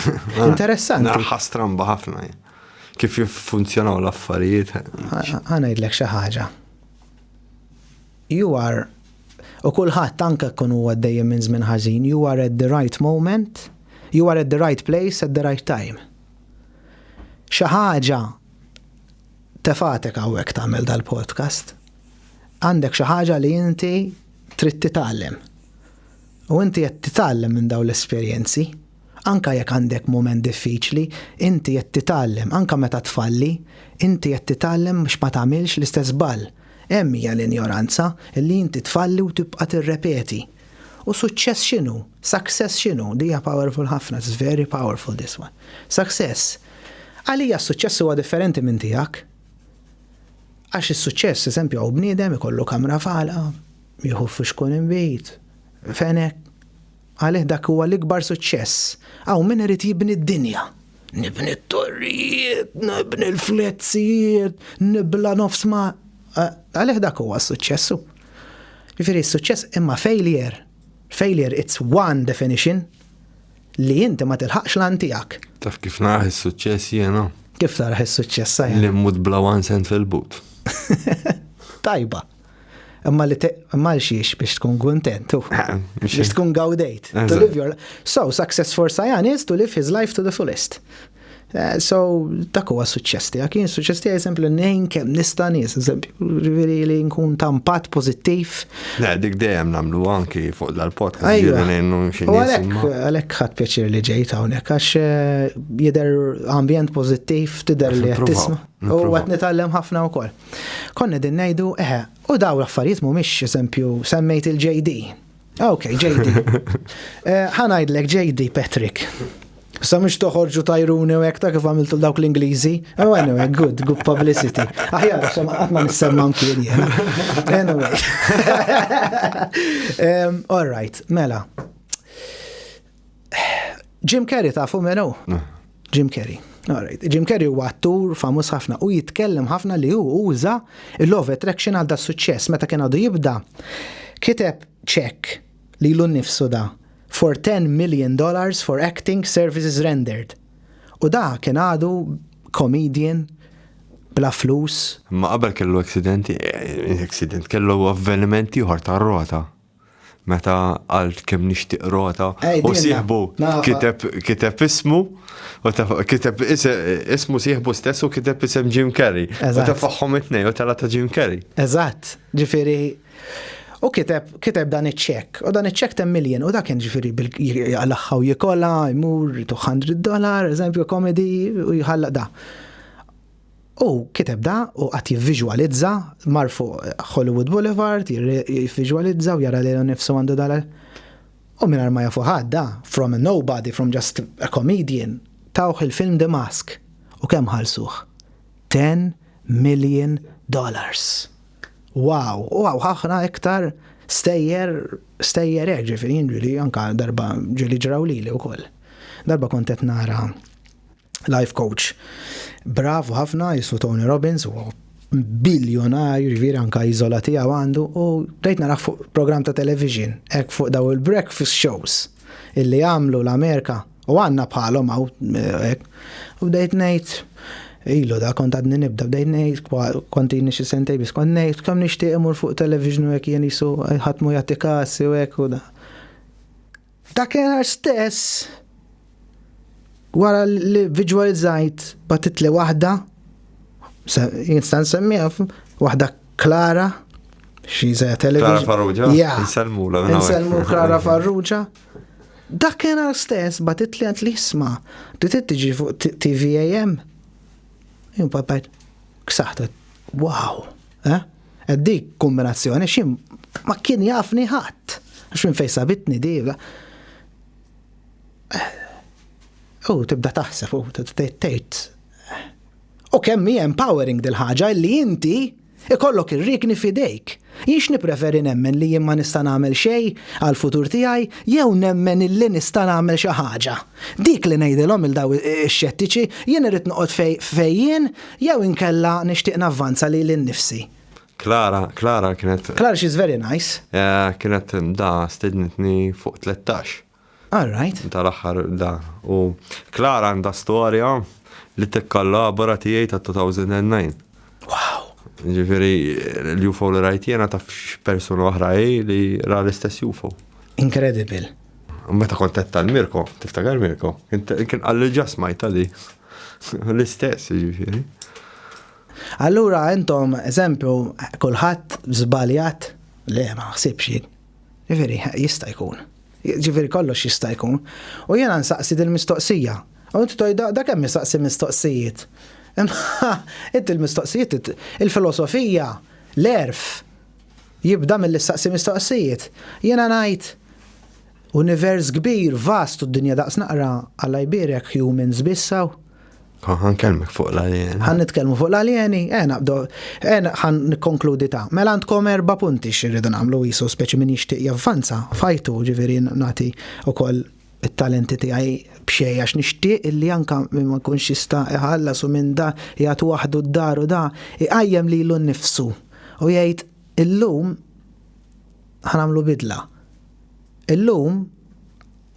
Interessanti. Naħħa stramba ħafna. Kif jiffunzjonaw l-affarijiet. Ħanajdlek xi ħaġa. You are u kulħadd anke kun huwa dejjem minn żmien ħażin, you are at the right moment, you are at the right place at the right time. Xi ħaġa Tefatek hawnhekk tagħmel dal-podcast. Għandek xi ħaġa li inti trid titgħallem. U inti qed titgħallem minn dawn l-esperjenzi. Anka jekk għandek mument diffiċli, inti qed titgħallem, anka meta tfalli, inti qed titgħallem biex ma tagħmilx l-istess ball. Hemm hija l-injoranza li inti tfalli u tibqa' tirrepeti. U suċċess x'inhu? Success x'inhu? Din hija powerful ħafna, it's very powerful this one. Success. Għalija s-suċċess huwa differenti minn tiegħek. Għax is-suċċess, eżempju, hawn bniedem ikollu kamra fala, jieħu fux kun imbit, fenek. Għalih dak huwa l-ikbar suċċess. Hawn min irid jibni d-dinja. Nibni t-torrijiet, nibni l-fletzijiet, nibla nofs ma. Għalih dak huwa s-suċċessu. Ġifieri s-suċċess imma failure. Failure it's one definition li inti ma tilħaqx lan tiegħek. Taf kif naraħ is-suċċess jiena? Kif taraħ is-suċċess sajja? Li mmut bla one cent fil-but. Tajba. Imma li imma xiex biex tkun kuntent. Eh, biex tkun gawdejt. To live your So success for Sajan is to live his life to the fullest. Eh, so, dak huwa suċċess tiegħek. Jien suċċess tiegħi eżempju li ngħin kemm nista' nies, eżempju, ġifieri li nkun ta' impatt pożittiv. Le, dik dejjem nagħmlu anki fuq dal-podcast. Ejja, għalhekk għalhekk ħadd pjaċir li ġejt hawnhekk għax eh, jidher ambjent pożittiv tidher li qed tisma'. U qed nitgħallem ħafna wkoll. Konni din ngħidu, eħe, u daw l-affarijiet mhumiex eżempju semmejt il-JD Ok, JD. Eh, ħanajdlek JD Patrick. Sa mux toħorġu tajruni u jek ta' kif għamiltu dawk l-Ingliżi. Oh, anyway, good, good publicity. Aħjar, xem għatma nissemma mkien jena. Anyway. um, all right, mela. Jim Carrey tafu minn hu? Ah. Jim Carrey. Alright. Jim Carrey huwa attur famuż ħafna u jitkellem ħafna li hu uża l-love attraction għal da suċċess meta kien għadu jibda kiteb ċek li l nifsu da for 10 million dollars for acting services rendered. U da kien għadu comedian bla flus. Ma qabel kellu accidenti, eh, accident, kellu avvenimenti uħar ta' rota. meta għalt kem nishtiq rota u sieħbu kiteb ismu u kiteb ismu sieħbu stess u kiteb isem Jim Carrey. U ta' faħħom it-nej u tala ta' Jim Carrey. Eżatt, ġifiri. U kiteb, kiteb dan iċ-ċek, u dan iċ-ċek tem miljen, u dak kien ġifiri għal-axħaw jikola, jmur, 200 dollar, eżempju, komedi, u jħalla da. Hu kiteb da u qagħad jivviżwalizza, mar fuq Hollywood Boulevard, jivviżwalizza u jara lilu nnifsu għandu dal U mingħajr ma jafu ħadd da, from a nobody, from just a comedian, tawh il-film The Mask. U kemm ħallsuh? Ten million dollars! Wow! U hawn ħafna iktar stejjer, stejjer hekk, ġifieri jien ġieli anke darba ġieli ġraw lili wkoll. Darba kont qed nara life coach bravu ħafna jismu Tony Robbins u biljonarju ġviri anka jizola tiegħu għandu u bdejt naraħ fuq program ta' television hekk fuq daw il-breakfast shows illi għamlu l-Amerika u għanna bħalhom għaw eh, u bdejt ngħid Ilu da kont għadni nibda bdejt ngħid kont jini xi sentej biss kont ngħid kemm nixtieq imur fuq television u hekk jien jisu ħatmu jagħti kasi u hekk u da. F'dakinhar stess, wara li viġwalizzajt batitli waħda, jinsta' nsemmiha waħda Klara, xi żejja television. Klara Farrugia? Ja. Nsellmula minn hawnhekk. Nsellmu Klara Farrugia. Dakinhar stess batitli għand li jisma' li trid tiġi fuq T- TVAM. Jien papajt, ksaħtet, wow, eh? Dik kombinazzjoni xi ma kien jafni ħadd. Għax minn fejn sabitni di. U tibda taħseb u tgħid. U kemm hi empowering dil-ħaġa li inti ikollok ir-rikni fidejk. Jiex nipreferi nemmen li jien ma nista' nagħmel xejn għal futur tiegħi jew nemmen illi nista' nagħmel xi ħaġa. Dik li ngħidilhom il daw ix-xettiċi jien irrid noqgħod fejn jien Jew inkella nixtieq navvanza lili nnifsi. Klara, Klara kienet. Klara she's very nice. Eh, kienet da stednitni fuq 13. All right. Tal-aħħar da. U Klara għandha storja li tikkollabora tiegħi ta' 2009. Wow. Ġifieri l-UFO li rajt jiena taf persuna oħra li ra l-istess UFO. Incredible. Meta kont qed tal-Mirko, tiftakar Mirko, kien qalli ġa smajta di. L-istess, ġifieri. Allura intom eżempju kulħadd żbaljat le ma naħsibx jien. Ġifieri jista' jkun. Ġifieri kollox jista' jkun. U jiena nsaqsi dil-mistoqsija. U inti tgħidha da kemm jistaqsi mistoqsijiet. Inti l-mistoqsijiet il-filosofija, l-erf, Jibda milli ssaqsi mistoqsijiet. Jiena ngħid, Univers kbir, vast u d-dinja daqs naqra, Alla jbierek, humans biss hawn? Oh, ħan kelmek fuq l-aljeni. Ħan nitkellmu fuq l-aljeni, eh naqbdu, eh ħan nikkonkludi ta' mela għandkom erba' punti xirridu nagħmlu jisu speċi min jixtieq javvanza fajtu ġifieri nagħti ukoll it-talenti tiegħi b'xejn għax nixtieq illi anka min ma jkunx jista' iħallas u minn da jgħat waħdu d-dar u da jqajjem lilu nnifsu u jgħid illum ħanagħmlu bidla. Illum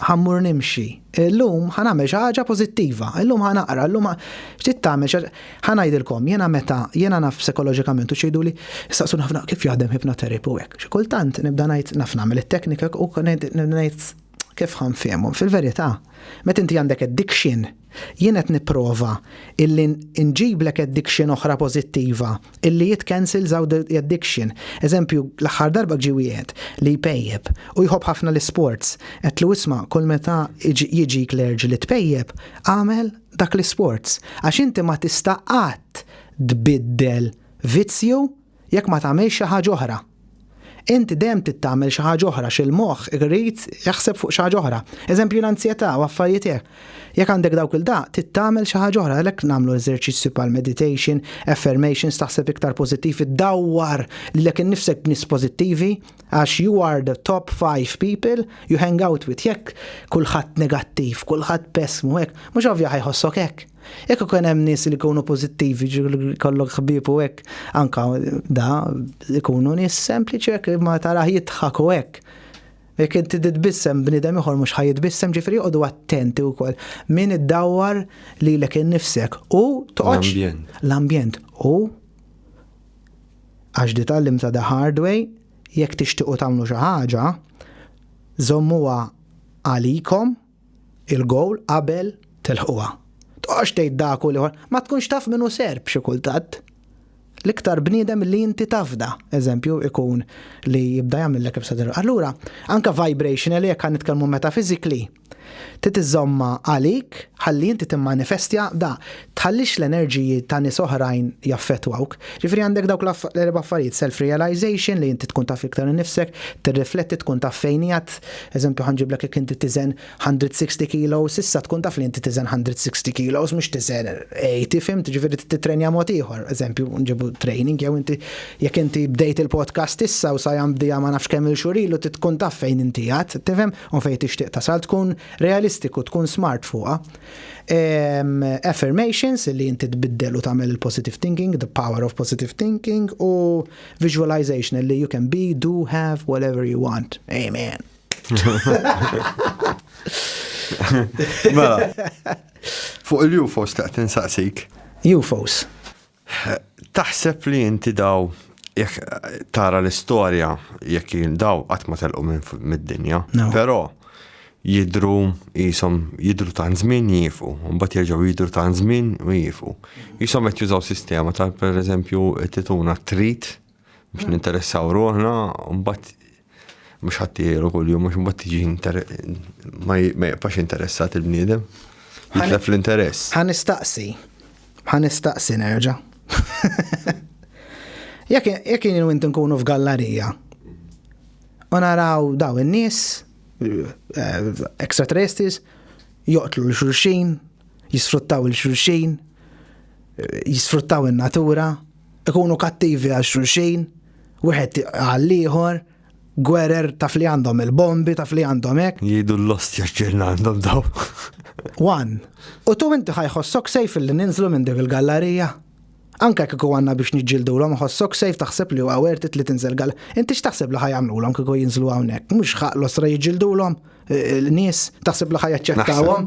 ħammur nimxi, illum ħanagħmel xi ħaġa pożittiva, illum ħanaqra, illum x'tit tagħmel xi ħanajdilkom jiena meta jiena naf psikoloġikament u xejduli saqsun ħafna kif jaħdem ħipnoterapy u hekk. Xi kultant nibda ngħid naf nagħmel it-teknika u ngħid Kif ħa nfehmhom? Fil-verità, meta inti għandek addiction, jien qed nipprova illi nġiblek addiction oħra pożittiva, illi it cancels out the addiction. Eżempju, l-aħħar darba ġie wieħed li jpejjep u jħobb ħafna l-isports, għedtlu isma' kull meta jiġik l-urge li tpejjep, agħmel dak l-isports, għax inti ma tista' qatt tbiddel vizzju jekk ma tagħmilx xi ħaġa oħra. Int dejjem trid tagħmel xi ħaġa oħra xi l-moħħ irid jaħseb fuq xi ħaġa oħra. Eżempju l-anzjetà u affarijiet hekk. Jekk għandek dawk il daq, trid tagħmel xi ħaġa oħra għalhekk nagħmlu eżerċizzju bħal meditation, affirmations, taħseb iktar pożittiv, iddawwar lilek innifsek b'nies pożittivi għax you are the top five people you hang out with. Jekk kulħadd negattiv, kulħadd pessmu hekk, mhux ovvja ħajħossok hekk. Jekk ikun hemm nies li jkunu pożittivi, kollok ħbieb u hekk, anka da ikunu nies sempliċi hekk ma taraħ jidħak u hekk. Jekk inti titbissem bniedem ieħor mhux ħaj jitbissem ġifieri joqogħdu attenti wkoll. Min iddawwar lilek innifsek u toqgħodx l-ambjent u għax di tallim ta' the hard way jekk tixtiequ tagħmlu xi ħaġa żommuha għalikom il-gowl qabel tilħquha. Tqogħodx tgħid dak u l-ieħor, ma tkunx taf min hu Serb xi kultant. L-iktar bniedem li inti tafda, eżempju, ikun li jibda jagħmillek ibsa dirqa. Allura, anke vibrational jekk għan nitkellmu metaphysically, titiżomma għalik ħalli inti timmanifestja da. tħallix l-enerġiji ta' nies oħrajn jaffettwawk. Jiġifieri għandek dawk l-erba' affarijiet, self realization li inti tkun taf iktar innifsek, tirrifletti tkun taf fejn qiegħed, eżempju ħa nġiblek jekk inti tiżen hundred sixty kilos issa tkun taf li inti tiżen hundred sixty kilos mhux tiżen eighty fimt, jiġifieri trid tittrenja mod ieħor, eżempju nġibu training jew inti jekk inti bdejt il-podcast issa u sajan bdieha ma nafx kemm-il xhur ilu trid tkun taf fejn inti qiegħed, tifhem, u fejn tixtieq tasal, tkun realistiku, tkun smart fuqha. affirmations li inti tbiddel u tagħmel il-positive thinking, the power of positive thinking u visualization li you can be, do, have, whatever you want. Amen. Mela, fuq il-UFOs taqt insaqsik. UFOs. Taħseb li inti daw jekk tara l-istorja jekk jien daw qatt ma telqu minn mid-dinja. No. Però jidru jisom jidru ta' żmien jifu, mbagħad jerġgħu jidru ta' żmien u jifu. Jisom qed jużaw sistema tal pereżempju tituna trit Biex ninteressaw ruħna, mbagħad mhux ħadd jgħidu kuljum mhux mbagħad tiġi ma jibqax interessat il-bniedem. Jitlef l-interess. Ħa nistaqsi. Ħa nistaqsi nerġa'. Jekk jien u inti nkunu f'gallarija u naraw daw in-nies eh, extraterrestres joqtlu l-xulxin, jisfruttaw il-xulxin, jisfruttaw in-natura, ikunu kattivi għal xulxin, wieħed għal ieħor, gwerer taf li għandhom il-bombi, taf li għandhom hekk. Jidu l-lostja ġirna għandhom daw. Wan, u tu inti ħajħossok sejf li ninżlu minn dik il-gallarija. Anka kiku għanna biex nġildu l-om ħossok sejf taħseb li huwa wertit li tinżel gall. Inti x'taħseb li ħajamlu l-om kiku jinżlu hawnhekk, mhux ħaq l-osra jġildu l-om. l-nies taħseb li ħajaċċettawhom.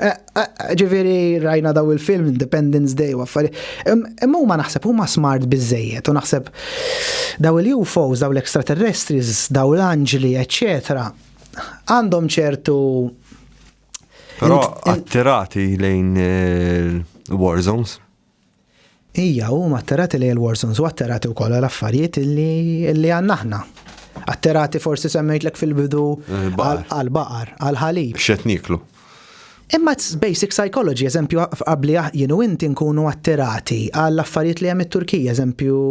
Eh, eh, ġifieri rajna daw il-film Independence Day u affari. Imma huma naħseb huma smart biżejjed u naħseb daw il-UFOs, daw l-extraterrestris, daw l-anġli, eċċetera, għandhom ċertu Però attirati lejn eh, war zones. Hija huma atterati lejn il-warsons u atterati wkoll għal affarijiet li għandna aħna. Atterati forsi semmejtlek fil-bidu għal baqar, għal ħalib. X'qed niklu. Imma basic psychology, eżempju, qabli jien u inti nkunu atterati għal affarijiet li hemm it-Turkija, eżempju,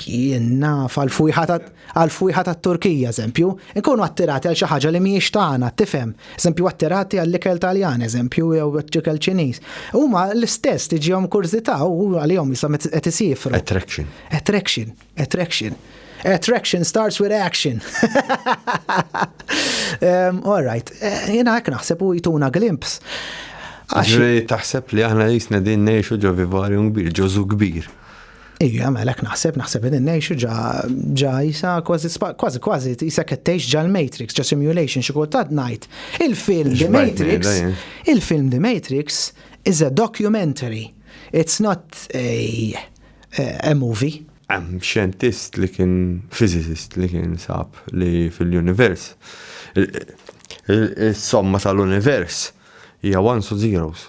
jien naf għal fujħata. Għal fwieħa tat-Turkija, eżempju, inkunu attirati għal xi ħaġa li mhijiex tagħna, tifhem? Eżempju, attirati għall-ikel Taljan, eżempju, jew ikel Ċiniż. Huma l-istess tiġihom kurżità u għalihom jisom qed isiefru. Attraction. Attraction. Attraction. Attraction starts with action. um, all right. Eh, jena għek naħseb u jtuna glimps. Għaxri taħseb li aħna jisna din neħxu ġo vivarium kbir, ġozu kbir. Ija, mela hekk naħseb, naħseb qegħdin ngħixu ġa ġa jisa kważi kważi kważi jisa qed tgħix ġa l-Matrix, ġa simulation xi kultant ngħid. Il-film The Matrix, il-film The Matrix is a documentary. It's not a, a movie. Hemm xjentist li kien physicist li kien sab li fil-univers is-somma tal-univers hija ones u zeros.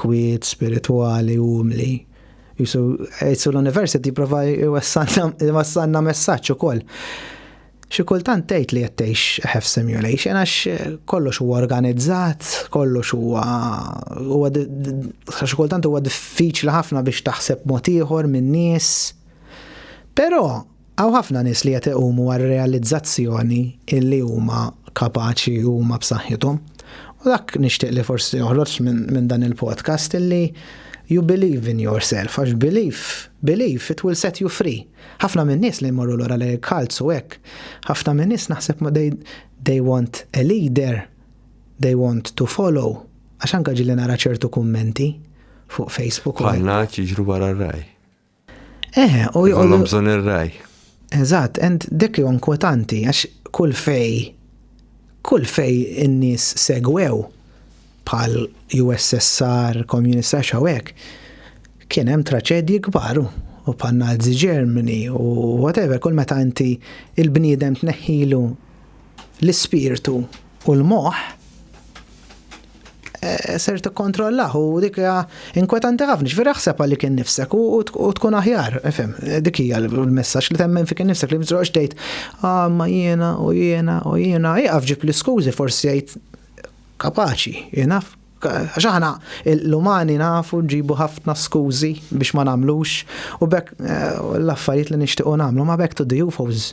kwiet, spiritwali, umli. Jisu jgħid l-University jipprova jwassalna messaġġ ukoll. Xi kultant tgħid li qed tgħix have simulation għax kollox huwa organizzat, kollox huwa huwa xi kultant huwa diffiċli ħafna biex taħseb mod ieħor min-nies. Però Hawn ħafna nies li qed iqumu għar-realizzazzjoni illi huma kapaċi u huma b'saħħithom. U dak nixtieq li forsi joħroġ minn dan il-podcast illi you believe in yourself għax belief, belief it will set you free. Ħafna minn nies li jmorru lura lejn cults u hekk, ħafna minn nies naħseb ma they, they want a leader, they want to follow. Għax anka ġilli nara ċertu kummenti fuq Facebook. Bħal naċ jiġru wara raj. Eh, u jgħodu. bżon ir-raj. Eżatt, and dik jgħon kwetanti, għax kull fej, kull fej in-nies segwew bħal USSR, komunista xawek, kien hemm traċedji kbar u bħal Nazi Germany u whatever, kull meta inti il-bniedem tneħħilu l-ispirtu U l-moħħ eh, ser tikkontrollah u dik hija inkwetanti ħafna, ġifieri ħseb għalli kien nifsek u tkun aħjar, fem, dik hija l-messaġġ li temmen fi kien nifsek li mżroqx tgħid ah ma jiena u jiena u jiena, jaqaf ġib l-iskużi forsi jgħid kapaċi, jenaf, għax aħna l-umani nafu ġibu ħafna skużi biex ma namlux u bekk eh, l-affarijiet li nixtiequ namlu ma bekk to the UFOs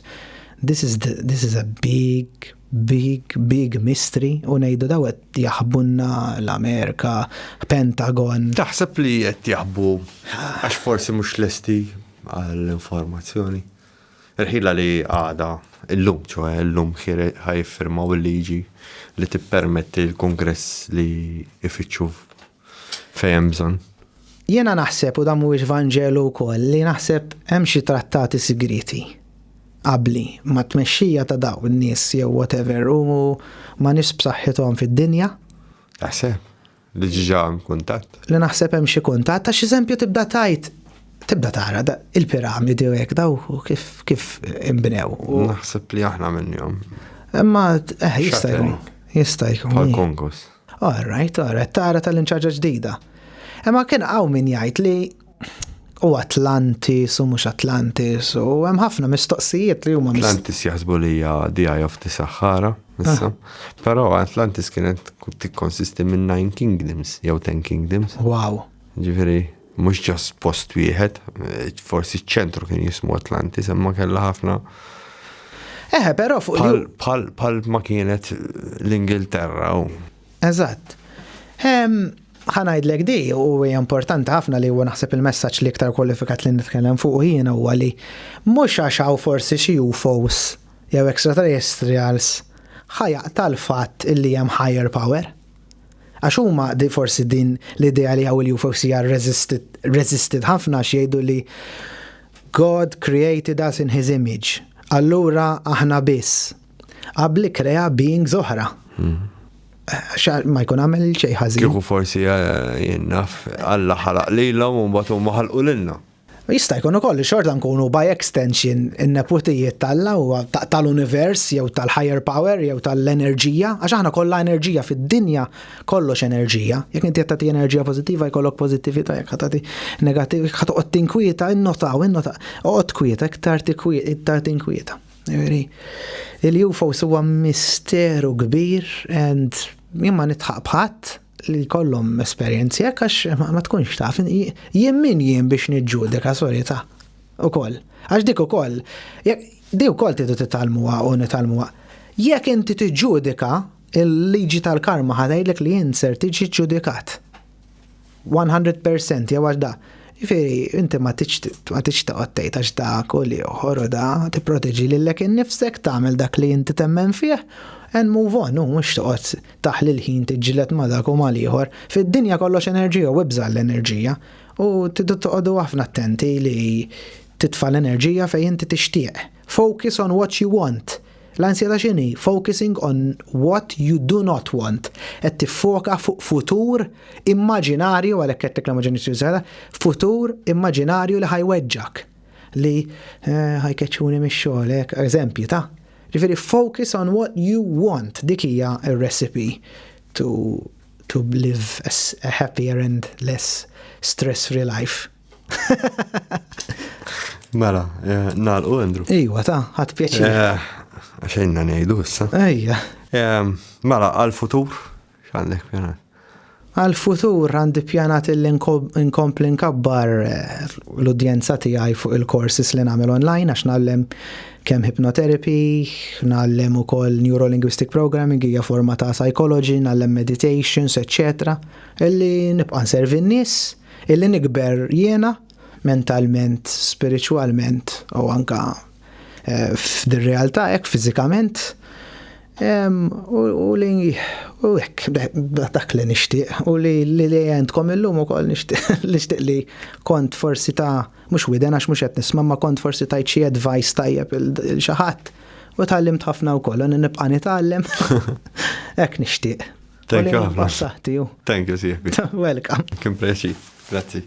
this is the, this is a big big, big mystery u ngħidu daw qed jaħbunna l-Amerika, Pentagon. Taħseb li qed jaħbu għax forsi mhux lesti għall-informazzjoni. Irħila li għada illum, ċoħe illum ħire ħajfirmaw il-liġi li tippermetti l-kongress li ifittxu fejn hemm bżonn. Jiena naħseb u dan mhuwiex vanġelu wkoll li naħseb hemm xi trattati sigrieti qabbli ma' tmexxija ta' daw in-nies jew whatever u ma' nies b'saħħithom fid-dinja. Taħseb li ġiġa hemm kuntatt? Li naħseb hemm xi kuntatt għax eżempju tibda tajt tibda tara il-piramidi u hekk daw kif kif inbnew. Naħseb li aħna minnhom. Imma eh, jista' jkun. Jista' jkun. Bħal konkos. All right, all right, tara tal-inċaġa ġdida. Imma kien għaw min jgħid li u Atlantis u mhux Atlantis u hemm ħafna mistoqsijiet li huma Atlantis jaħsbu li hija the eye of the Sahara issa. Ah. Però Atlantis kienet tikkonsisti minn nine kingdoms jew ten kingdoms. Wow. Ġifieri Mhux ġast post wieħed, forsi ċ-ċentru kien jismu Atlantis, imma kellha ħafna. Eħe, però fuq il Pal ma kienet l-Ingilterra. Eżatt. Ħanajdlek di u hija importanti ħafna li huwa naħseb il-messaġġ li iktar kwalifikat li nitkellem fuq jiena huwa li mhux għax hawn forsi xi UFOs jew extraterrestrials ħajaq tal-fatt illi hemm higher power. Għax huma di forsi din l-idea li hawn il-UFOCR resisted, resisted ħafna għax jgħidu li God created us in his image. Allura aħna biss. Qabli krea beings oħra. Hmm. Xa ma jkun għamel xej ħażin. Kieku forsi eh, jinnaf, Alla ħalaq lilhom u mbagħad huma ħalqu lilna. U jista' jkun ukoll li xorta nkunu by extension in-neputijiet t'Alla u tal-univers jew tal-higher power jew tal-enerġija, għax aħna kollha enerġija fid-dinja, kollox enerġija. Jekk inti qed tagħti enerġija pożittiva jkollok pożittività, jekk ħa tagħti negattiv ħa toqgħod tinkwieta, innotaw, innotaw, oqgħod kwieta, iktar tikwiet, iktar tinkwieta. Jiġifieri, Il-UFOs huwa misteru kbir and jien ma nitħaq b'ħadd, li kollhom esperjenzi hekk għax ma tkunx taf jien min jien biex niġġudika sorry ta' ukoll. Għax dik ukoll di wkoll tidu titalmuha u nitalmuha. Jekk inti tiġġudika il-liġi tal-karma ħadajdlek li jien ser tiġi ġudikat. 100% jew għax da. Jifieri inti ma tiġ taqgħod tgħid għax da kull ieħor u da tipproteġi lilek innifsek tagħmel dak li inti temmen fih and move on, mhux toqgħod Taħli l-ħin tiġġieled ma' dak u ma' l-ieħor. Fid-dinja kollox enerġija u ibża' għall-enerġija. U tridu toqogħdu ħafna attenti li titfa' l-enerġija fejn inti tixtieq. Focus on what you want. L-ansjetà x'inhi? Focusing on what you do not want. Qed tiffoka fuq futur immaġinarju, għalhekk għedtlek l-immaġinazzjoni saħħitha, futur immaġinarju li ħa jweġġgħek. Li ħa jkeċċuni mix-xogħol, hekk, eżempji ta'. Jiġifieri focus on what you want, dik hija r-recipe to to live a happier and less stress-free life. Mela, eh, nalqu Andrew. Ejwa, ta' ħadd pjaċir. Eh, Xejna ngħidu issa. Ejja. Eh, mela, għal-futur X'għandek pjanat? Għal-futur għandi pjanat li nkompli nkabbar eh, l-udjenza tiegħi fuq il-courses li nagħmel online għax nagħllem kemm hypnotherapy, nagħllem ukoll neurolinguistic programming hija forma ta' psychology, nagħllem meditations, etc. Illi nibqa' nservi n-nies, illi nikber jiena mentalment, spiritualment u anka Eh, f'din realtà hekk fiżikament u li u hekk dak li nixtieq u li li li għandkom illum ukoll nixtieq li kont forsi ta' mhux widen għax mhux qed nisma' ma kont forsi tajt xi advice tajjeb il xi ħadd u tgħallimt ħafna wkoll u nibqa' nitgħallem hekk nixtieq. Thank you ħafna. Thank you sieħbi. Welcome. Kim preċi. Grazzi.